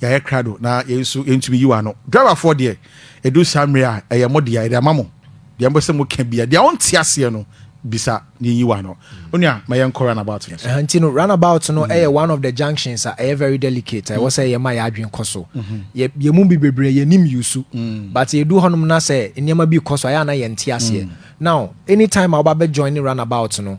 Yɛayɛ krado na yɛn nso yɛntumi yiw ano. Driverfoɔ deɛ, ɛduru saa mmerɛ a, ɛyɛ mo dea, yɛde ama mo. Deɛ mopɛ sɛ moka biara, deɛ wonte aseɛ no, bisa na yɛnyiw ano. Onua, ma yɛnkɔ runabout no so. Ɛha nti no, runabout no yɛ one of the junctions a ɛyɛ very delicate a ɛwɔ sɛ yɛma yɛn adwene kɔ so. Yɛ, yɛn mu bi bebree, yɛnnim Yusu. But yɛduru hɔnom na sɛ nneɛma bi rekɔ so a, ɛyɛ a na yɛnte aseɛ. Now, anytime a wobɛabɛ joine runabout no,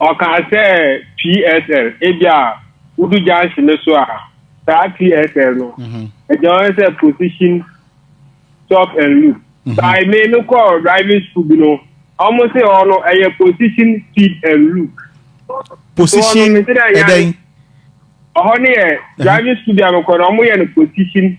Ɔkaa sɛ, PSL, ebia wodu junction no so a, saa PSL no, ɛgyina hɔ sɛ position, stop and look. Mhm. By me no kɔɔ driving school bi no, wɔn se hɔ no ɛyɛ position, speed and look. Position ɛdɛn? Ɔhɔ no yɛ driving school bi a mekɔ no, wɔyɛ no position.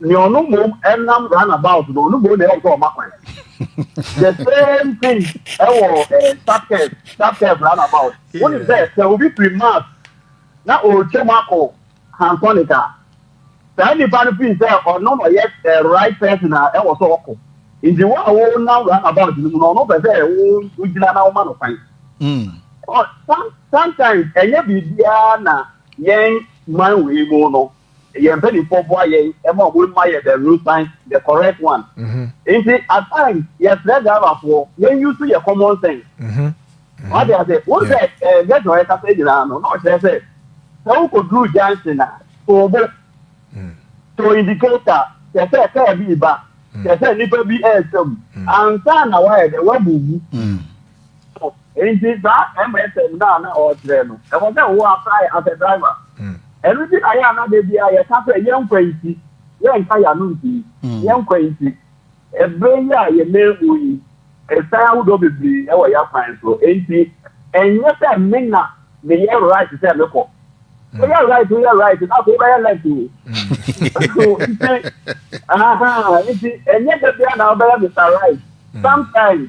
nea ɔno mmom ɛnam round about no ɔno mmom na ɛwɔ sɛ ɔma kwan the same thing ɛwɔ ɛɛ subcurve subcurve round about wọ́n ní bẹ́ẹ̀ sẹ́ obi firi mars na ɔretwa mu akɔ hansonic a saa nipa no firi sɛ ɔno na ɔyɛ ɛɛ right person a ɛwɔ sɛ ɔkɔ nti wɔn a wɔnam round about no mu no ɔno pɛ sɛ wɔgyina na wɔma no kwan. Hmm. sometimes ɛnyɛ biribiara na yɛn man wei mu no yɛn mpanimfoɔ boa yɛn ma wɔn ma yɛ the road sign the correct one mm-hmm. nti at times yɛsrɛ driverfoɔ yɛn use yɛ common sense mm-hmm. wade ase wo sɛ ɛɛ gɛtɔ yɛ kasa nyinaa no na ɔkyerɛ sɛ sɛ wokɔ duru junction na toobo mm. to indicator kyɛ sɛ kaa bi ba kyɛ mm. sɛ nipa bi ɛɛsɛm mm. ansa na wayɛ dɛ wabubu. nti saa msm no a na ɔrekyerɛ no ɛwɔ sɛ wo apply as a driver ɛno nti na yɛ a na da bi a yɛka sɛ yɛnkwa nti yɛnka yɛano nti yɛnkwa nti ɛberɛ yi a yɛmɛ mu yi ɛsan ahodoɔ bebree ɛwɔ yɛ akwan so nti ɛnyɛ sɛ me na meyɛ right sɛ mekɔ woyɛ right woyɛ right na afei wobɛyɛ left o nti aha nti ɛnyɛ da bi a na wobɛyɛ mr right sometimes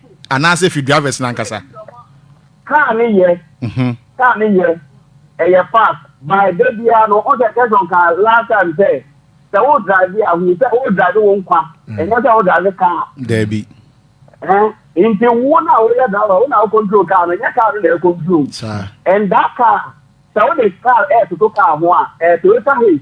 Anaasɛ ɛfiri drivers no ankasa? Car no yɛ, car no yɛ, ɛyɛ fast, but da biara no, wo sɛ Gerson ka last time sɛ, sɛ wo drive a, hu sɛ wo drive wo nkwa, ɛnyɛ sɛ wo drive car. Daabi. Eh, nti wo na wo yɛ driver, wo na wo control car no, nyɛ car no na ɛ control. And that car, sɛ wo de car ɛ toto car ho a, ɛ Toyota Hiace,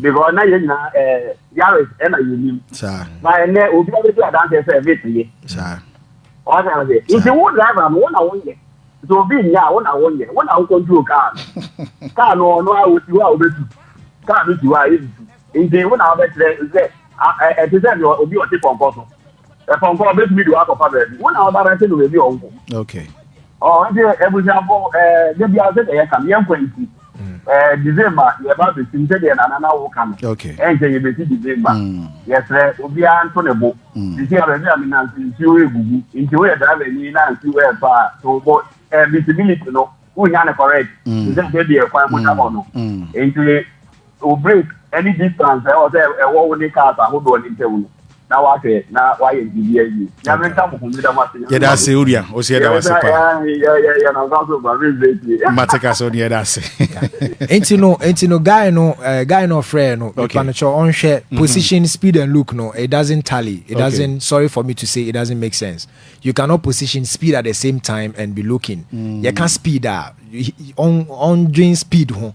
because na yɛn nyinaa ɛɛ eh, yaris ɛna yɛn nim na ɛnɛ obi a bɛdi adanseɛ sɛ ɛbɛ ti yɛ ɔsɛ ɔsɛ nti wo driver no wo na wo nyɛ nti obi nyɛ a wo na wo nyɛ wo na wo control car no car no ɔno a osi hɔ a obɛtu car no si hɔ a yɛntu nti wo na wobɛkyerɛ sɛ ɛte sɛ deɛ obi ɔte pɔnkɔ so Ɛpɔnkɔ a ɔbɛtumi de wakɔfa baabi. Wo na ɔdarɛte no baabi a ɔnkɔ. Okay. Oh, nti abusuafo ɛɛ de bia sɛ yɛ kan yɛn kwan ti. Ɛɛ December yɛ ba besim sɛ deɛ nana na wo ka no. Okay. Ɛnkyɛ yɛ besi December. Mm. Yɛsrɛ obiara nto ne bo. Mm. Sisi a baabi a mi nan si nsuo egugu. Nti woyɛ driver ni na nsuo ɛɛtɔ a to wo bo. Ɛɛ visibility no wonya no correct. Mm. Sɛ sɛ deɛ kwan mu da hɔ no. Mm. Nti Wo break ne distance a ɛwɔ sɛ ɛwɔ wo ne cars ahodoɔ no ntam no, na wahwɛ na wayɛ biribi awie. Nyame nka mo ho, meda mo ase. Yɛda ase Uria, wo nso yɛda wo ase paa. Yɛnam kwan so ba, me break yi. Mate ka sɛ wo ne yɛda ase. Enti no, enti no, guy no, eh, guy no ɔfrɛɛ no, Okay. nipa no kyɛ ɔnhwɛ mm-hmm. position, speed and look no, it doesn't tally, it Okay. doesn't, sorry for me to say, it doesn't make sense. You cannot position speed at the same time and be looking. Mm. Yɛka speed a, ɔn- ɔndwen speed ho.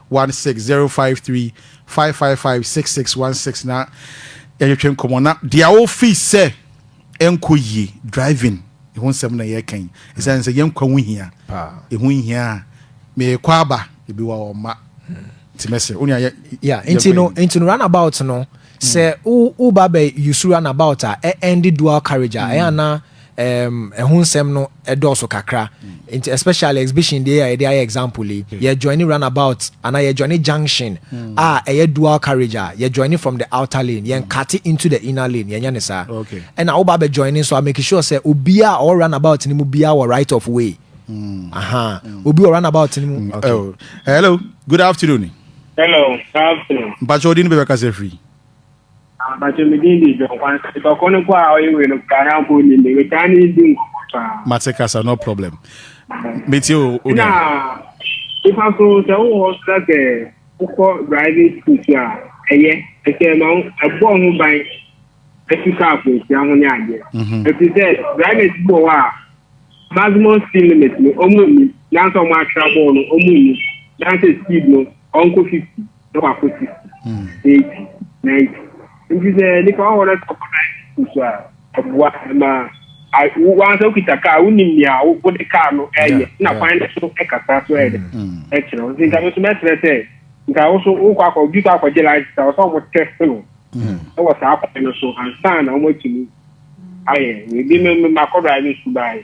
one six zero five three five five five six six one six na yɛtwetwe nkɔmɔ na deɛ wofi sɛ ɛnkɔ yie driving ɛho nsɛm na yɛka yi ɛsiane sɛ yɛnkwa ho hia ɛho hia a meekɔ aba ebi wa ɔma nti mɛsɛ wo nea yeah nti no nti no runabout no sɛ woba bɛ use runabout a ɛndi dual carriage a ɛyɛ anaa um, ɛho nsɛm no ɛdɔɔso kakra nti especially exhibition deɛ a yɛde ayɛ example yi hmm. yɛ join runabout anaa yɛ join junction hmm. a ɛyɛ dual carriage a yɛ join from the outer lane yɛn hmm. cut into the inner lane yɛn nyɛ ne saa ɛna woba bɛ join nso a make sure sɛ obiara ɔwɔ runabout ne mu biara wɔ right of way aha obi wɔ runabout ne mu. Oh. hello good afternoon. hello good afternoon. mpatsɛ odi ni bɛ bɛ kasa firi. Ah mpakyɛ me din de John Kwanzaa. Nipa koro no mpo a ɔyɛ wei no koraa na mpo ɔnnim me. Metaa ne di nkɔmmɔ paa. Mate kasa no problem. Metie o o nua. Na nipa so sɛ wowɔ hɔ so na sɛ wokɔ driving school so a ɛyɛ ɛsɛ ɛma wo ɛbɔ ho ban ɛfi kaa akwanhyia ho ne adeɛ. Ɛfiri sɛ drivers bi wɔ hɔ a maximum speed limit no wɔn nni nanso wɔn atwerɛ bɔɔ no wɔn nni nanso speed no ɔnkɔ 50. na wakɔ sisi eighty ninety nti sɛ nipa ɔwɔ na ɔkɔ ninety so a ɛboa ɛma wansa okita kaa wonim nea wode kaa no ɛyɛ na kwan no so ɛkasa so ɛyɛ ɛkyerɛ wo nti nka me so mɛsrɛ sɛ nka wo so wokɔ akɔ obi kɔ akɔgye license a wɔsɛ wɔn test no ɛwɔ saa kwan no so ansa na wɔn atumi ayɛ ebi mmakɔ drive sukuu baayɛ.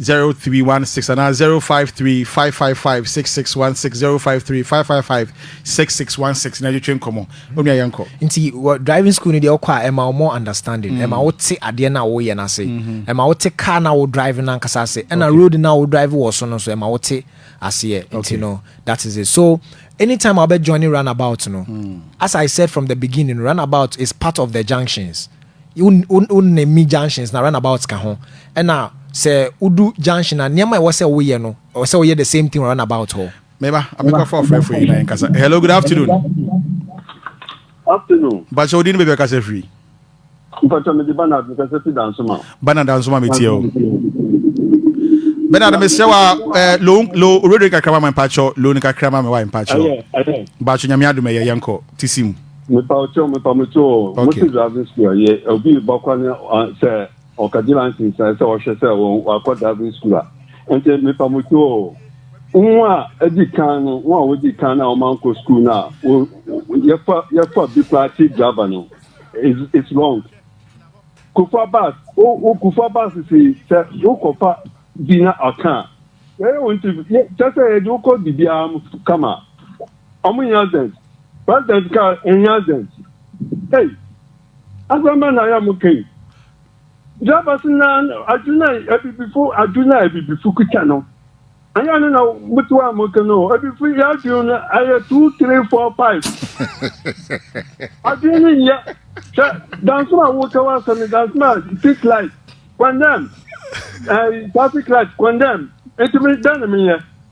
zero three one six anaa zero five three five five five six six one six zero five three five five five six six one six na twetwe nkɔmɔ onua yɛn kɔ. nti wɔ driving school no deɛ ɔkɔ a ɛma wo more understanding mm. ɛma wo te adeɛ no a woyɛ no ase mm-hmm. ɛma wo te car no a wo drive no ankasa ase ɛna road no a wo drive wɔ so no nso ɛma wo te aseɛ nti no that is it so anytime I'll be joining runabout no mm. as I said from the beginning runabout is part of the junctions wo ne mi junctions na runabout ka ho ɛna sɛ wodu junction a nneɛma ɛwɔ sɛ woyɛ no ɛwɔ sɛ woyɛ the same thing runabout hɔ. meba amekɔfa ɔfrɛfo yi na yɛn kasa hello good afternoon. afternoon. bakyɛ wodi ne baabi akasa firi. mpatwa mede banard mekasa fi dansoma. banard dansoma metie o. Bernard mesrɛ wa eh, lo lo radio kakra ma mpakyɛ lo no kakra ma me wa mpakyɛ bakyɛ nyame adom ɛyɛ yɛnkɔ ti si mu mepa ɔkyɛw mepa mo kyɛw o mo ti driving school ɛyɛ obi ba kɔ ne sɛ ɔkagye lansin sɛ sɛ ɔhwɛ sɛ wɔn wakɔ driving school a nti mepa mo kyɛw o wɔn a adi kan no wɔn a wɔdi kan no a wɔn ankɔ school no a wɔ yɛfa yɛfa bi kura ti driver no it's it's wrong kufa bus o o kufa bus si sɛ wokɔfa bi na ɔka a ɛyɛ wɔn ti kyɛ sɛ yɛde wokɔ bibiara kama. Ɔmo hia dɛn? President kaa ehia dɛn? Ei! Asɛm bɛn na yɛ mo ka yi? Drivers na adwene na abibifo adwene na abibifo kuta no. Anyɛ no na mo to a mo ka no o. Abibifo yɛ adwene no ɛyɛ two three four five. Adwene no nyɛ sɛ dansom a woka w'asɛm no dansom a street light condemn, eh, traffic light condemn. Ntumi dɛn na menyɛ?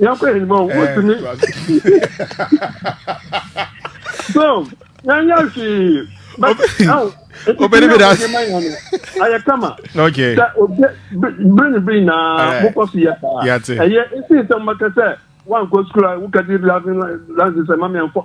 Yɛnkɔ yɛn anim a wotumi. So yɛnyɛ hwee. Obedi bi da. Ayɛ kama. Okay. Sɛ obi bere ne bere nyinaa mokɔ so yɛ saa. Yate. Ɛyɛ esi nsɛm bɛka sɛ wankɔ sukuu a wokadi driving license ɛma mi ankɔ.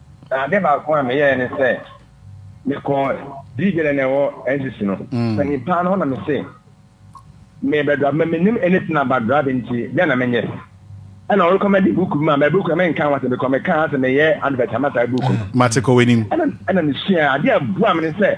Na ade baako a meyɛɛ ne sɛ mekɔɔ Diibi na na ɛwɔ NCC no panyin paa no hɔ na mese merebɛdra ma menim anything about driving nti dɛn na menyɛ ɛna ɔrekɔmɛde book bi ma ma book no menka ho asɛm because mekaa sɛ meyɛ advert ama saa book no mate kɔ w'anim ɛna mesua adeɛ a ɛboa me ne sɛ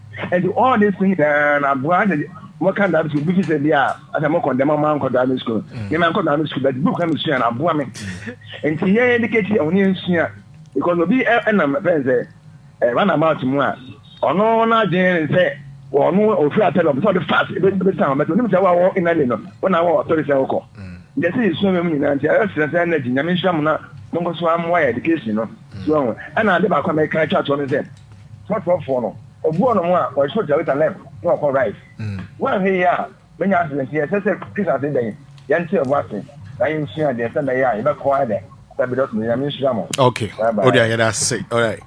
Enti all this thing nyinaa na aboa sɛ mɔka driving school bi fi sɛ bi a asɛ mo kɔndɛm ɔmo ankɔ driving school mm. yɛn ankɔ driving school but book na mi sua na aboa mi mm. nti yɛn educate yɛn ho ne yɛn sua because obi ɛnam fɛn sɛ ɛ run about mu a ɔno n'adwene sɛ ɔno ofiri atɛlɛ ɔmo sɛ ɔde fast ebe ebe san ɔmo ɛtɔ onim sɛ wa wɔ inali no wɔn na wɔ ɔtɔri sɛ ɔkɔ yɛsi yɛ sua wɛmu nyinaa nti ɛyɛ srɛsrɛ ɛnɛ gyi nyame nhyira mu na mo nkɔ so amoa yɛ education no. So woahu? Ɛnna ade baako a mɛka atwa toɔ ne sɛ, Fɔtrɔfoɔ no, ɔbu wɔnom a wɔhwe Jerusalem na wɔkɔ Rice. Woanhwɛ yie a, manya aseɛ nti, ɛsɛ sɛ Christmas yi bɛn, yɛnte yɛn ho ase na yɛnsua adeɛ sɛ mɛyɛ a yɛbɛkɔ ayɛ dɛ. Barbados no, Nyame nhyira mo. Okay. Bye bye. Wode ayɛ dɛ ase. Alright.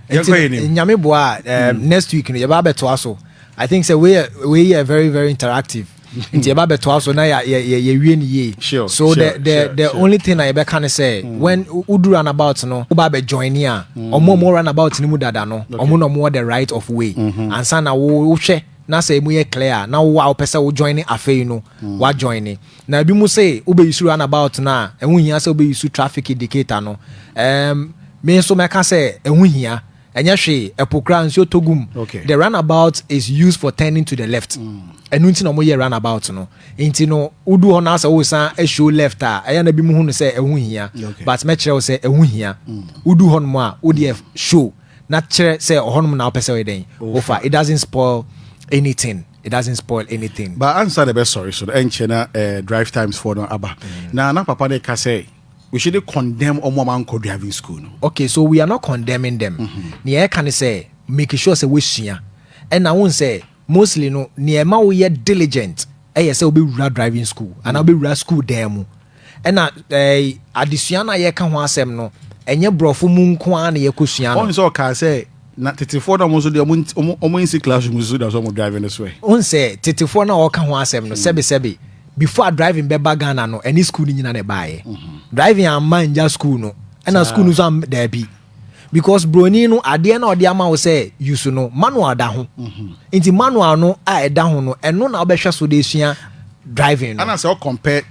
nti nyame boa a eh, hmm. next week no yɛbɛ abɛtoa so i think sɛ wei wei yɛ very very interactive hmm. nti yɛbɛ abɛtoa so na yɛwie no yie so the the the only thing na yɛbɛka no sɛ hmm. when wodu run about no woba abɛ join ni a ɔmo ɔmo run about no mu dada no ɔmo na ɔmo wɔ the right of way mm-hmm. ansa na wohwɛ na sɛ emu yɛ clear na wo a wopɛ sɛ wo join afei no wa join Na binom se wobeyusu runabout no a, ɛho hia sɛ wobeyusu traffic indicator no. Ɛɛm, me nso mɛka sɛ ɛho hia. Ɛnyɛ hwee, ɛpo koraa nsuo tɔ gu mu. Okay. The runabout is used for turning to the left. Ɛno nti na wɔyɛɛ runabout no. Nti no, wodu hɔ no ara sɛ woresan ahwio left a, ɛyɛ a na binom hu no sɛ ɛho nhia. Okay. But mɛkyerɛ wo sɛ ɛho hia. Wodu hɔnom a, wo deɛ show na kyerɛ sɛ ɔhɔnom na wopɛ sɛ woyɛ dɛn? Wofa. It doesn't spoil anything. it doesn't spoil anything. But ansa na ɛbɛsɔre so no, ɛnkyɛ na eh, drive times foɔ no aba. Mm. Na na papa no ka sɛ, we shouldn't condemn wɔn a wɔankɔ driving school no. Okay, so we are not condemning them. Mm-hmm. Nea ɛka ne sɛ, make sure sɛ wɔasua. Ɛna wohu sɛ, mostly no, nea ɛma woyɛ diligent ɛyɛ sɛ wobɛwura driving school, anaa mm. wobɛwura school dan mu. Ɛna ɛɛ adesua no a yɛka ho asɛm no, ɛnyɛ borɔfo mu nko ara na yɛkɔsua no. Ɔn sɛ ɔkaa sɛ, na tetefoɔ no a wɔn nso deɛ wɔn wɔn nsi classroom nso da so wɔn drive no so ɛ. Wohu sɛ tetefoɔ no a ɔreka ho asɛm no, sɛbesɛbe, before driving bɛba Ghana no, ɛne sukuu no nyina na ɛbaeɛ. Driving amma angya sukuu no, ɛna sukuu no nso am daabi. because broni no adeɛ na ɔde ama wo sɛ use no manual da ho mhm. nti manual no a ɛda ho no ɛno na wobɛhwɛ so de sua driving no. anasɛ ɔkɔmpɛ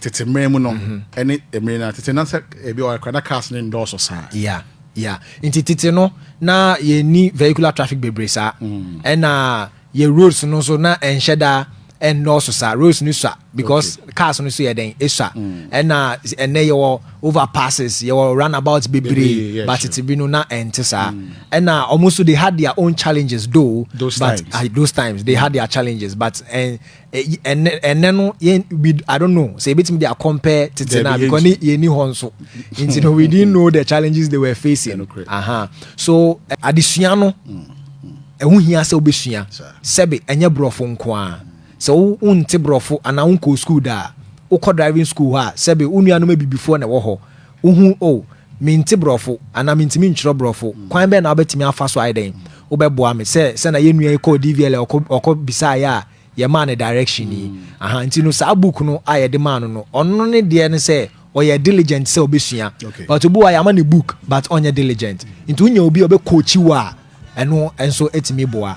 tete mmerɛ mu no mhm. ɛne mmerɛ no tete na sɛ ebi ɔkra na cars ne ndɔɔso saa. ya ya nti tete no na yɛni vehicular traffic bebree saa mhm. ɛna. Yɛ roads no nso na ɛnhyɛ da ɛnnɔɔso saa roads no sua because cars no nso yɛ dɛn esua ɛna ɛnɛ yɛwɔ overpasses yɛwɔ runabout bebree but tete bi no na ɛnte saa ɛna wɔn nso they had their own challenges though those but times. Uh, those times they had their challenges but ɛn ɛnɛ ɛnɛ no yɛn we i don't know sɛ ebetumi de akɔmpɛ tete na because ne yɛn ni hɔ nso nti no we didn't know the challenges they were facing aha so eh, adesua no mm, mm. ɛho hia sɛ wobɛsua sɛbe ɛnyɛ borɔfo nko a sɛ wonte borɔfo anaa wonkɔɔ skuul da a wokɔ driving school hɔ a sɛbe wo nuanom abibifoɔ na ɛwɔ hɔ Wuhu, oh, mente Borɔfo, anaa mintumi ntwerɛ Borɔfo. Kwan bɛn na wobɛtumi afa so ayɛ dɛn? Wobɛboa me? Sɛ, sɛnea yɛn nua yi kɔɔ DVLA, ɔkɔ, ɔkɔ bisaeɛ a, yɛmaa no direction yi. Aha, nti no, saa book no a yɛde maa no no, ɔno ne deɛ ne sɛ, ɔyɛ diligent sɛ ɔbɛsua. But obi wɔ hɔ a, yɛama no book, but ɔnyɛ diligent. Nti wonya obi a ɔbɛcoachi wo a, ɛno nso tumi boa.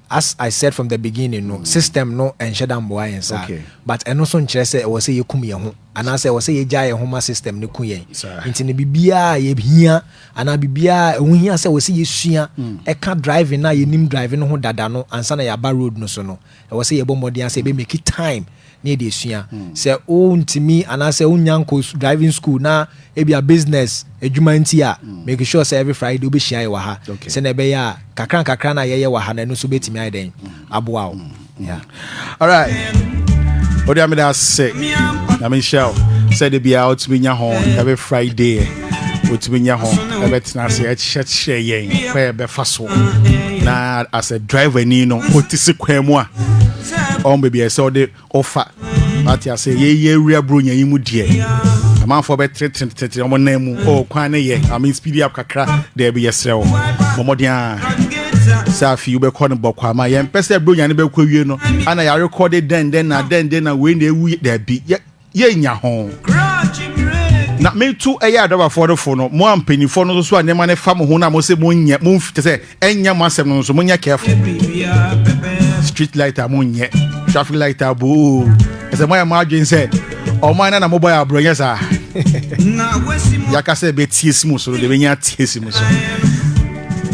As I said from the beginning no, system no nhyɛ da mboa yɛn saa. But ɛno nso nkyerɛ sɛ ɛwɔ sɛ yɛkum yɛn ho, anaasɛ ɛwɔ sɛ yɛgyaa yɛn ho ma system no ku yɛn. Nti no, biribiara a yɛhia, anaa biribiara a ɛho hia sɛ ɛwɔ sɛ yɛsua ɛka driving no a yɛnim driving ho dada no ansa na yɛaba road no so no, ɛwɔ sɛ yɛbɔ mmɔden ara sɛ yɛbɛ make time ne yɛde asua. Sɛ wontumi anaasɛ wonnya nkɔ driving school na ebia business adwuma nti a, make sure sɛ every Friday wobɛhyia yɛ wɔ ha. Sɛnea ɛbɛyɛ a kakra nkakra no a yɛyɛ wɔ ha no ɛno nso bɛtumi ayɛ dɛn aboa wo. Alright. Ode ameda ase. Na me nhyira wo. Sɛ de bia wotumi nya ho every Friday. Wotumi nya ho ɛbɛtena ase ɛkyerɛkyerɛ yɛn kɔ ɛbɛfa so. Na as a driver ni no wote se kwan mu a ɔn baabi a ɛsɛ ɔde ɔfa ate ase yɛ yɛ awura buro nyɛ yi mu deɛ amanfoɔ bɛ tereteretere wɔn nan mu ɔɔ kwan ne yɛ ame speedy up kakra dɛbi yɛ serɛ wo bɔmɔden a sɛ afei wobɛkɔ no bɔkɔ ama yɛn pɛ sɛ buro nyane bɛkɔ wie no ana yɛarekɔ de dɛn dɛn na dɛn dɛn na wei na ewu dɛbi yɛ yɛnya ho. Na metu ɛyɛ adɔbafoɔ no fo no, mo a mpanimfoɔ no nso so a nneɛma no fa mo ho no a mo se monyɛ, momf, kyɛ sɛ ɛnyɛ mo asɛm no nso monyɛ careful. Street light a monyɛ, traffic light a boo, ɛsɛ moayɛ mo adwene sɛ ɔman no na mobɔ yɛ aborɔ, nyɛ saa? Yɛaka sɛ ɛbɛtie si mo so no, deɛ ɛbɛnya atie si mo so.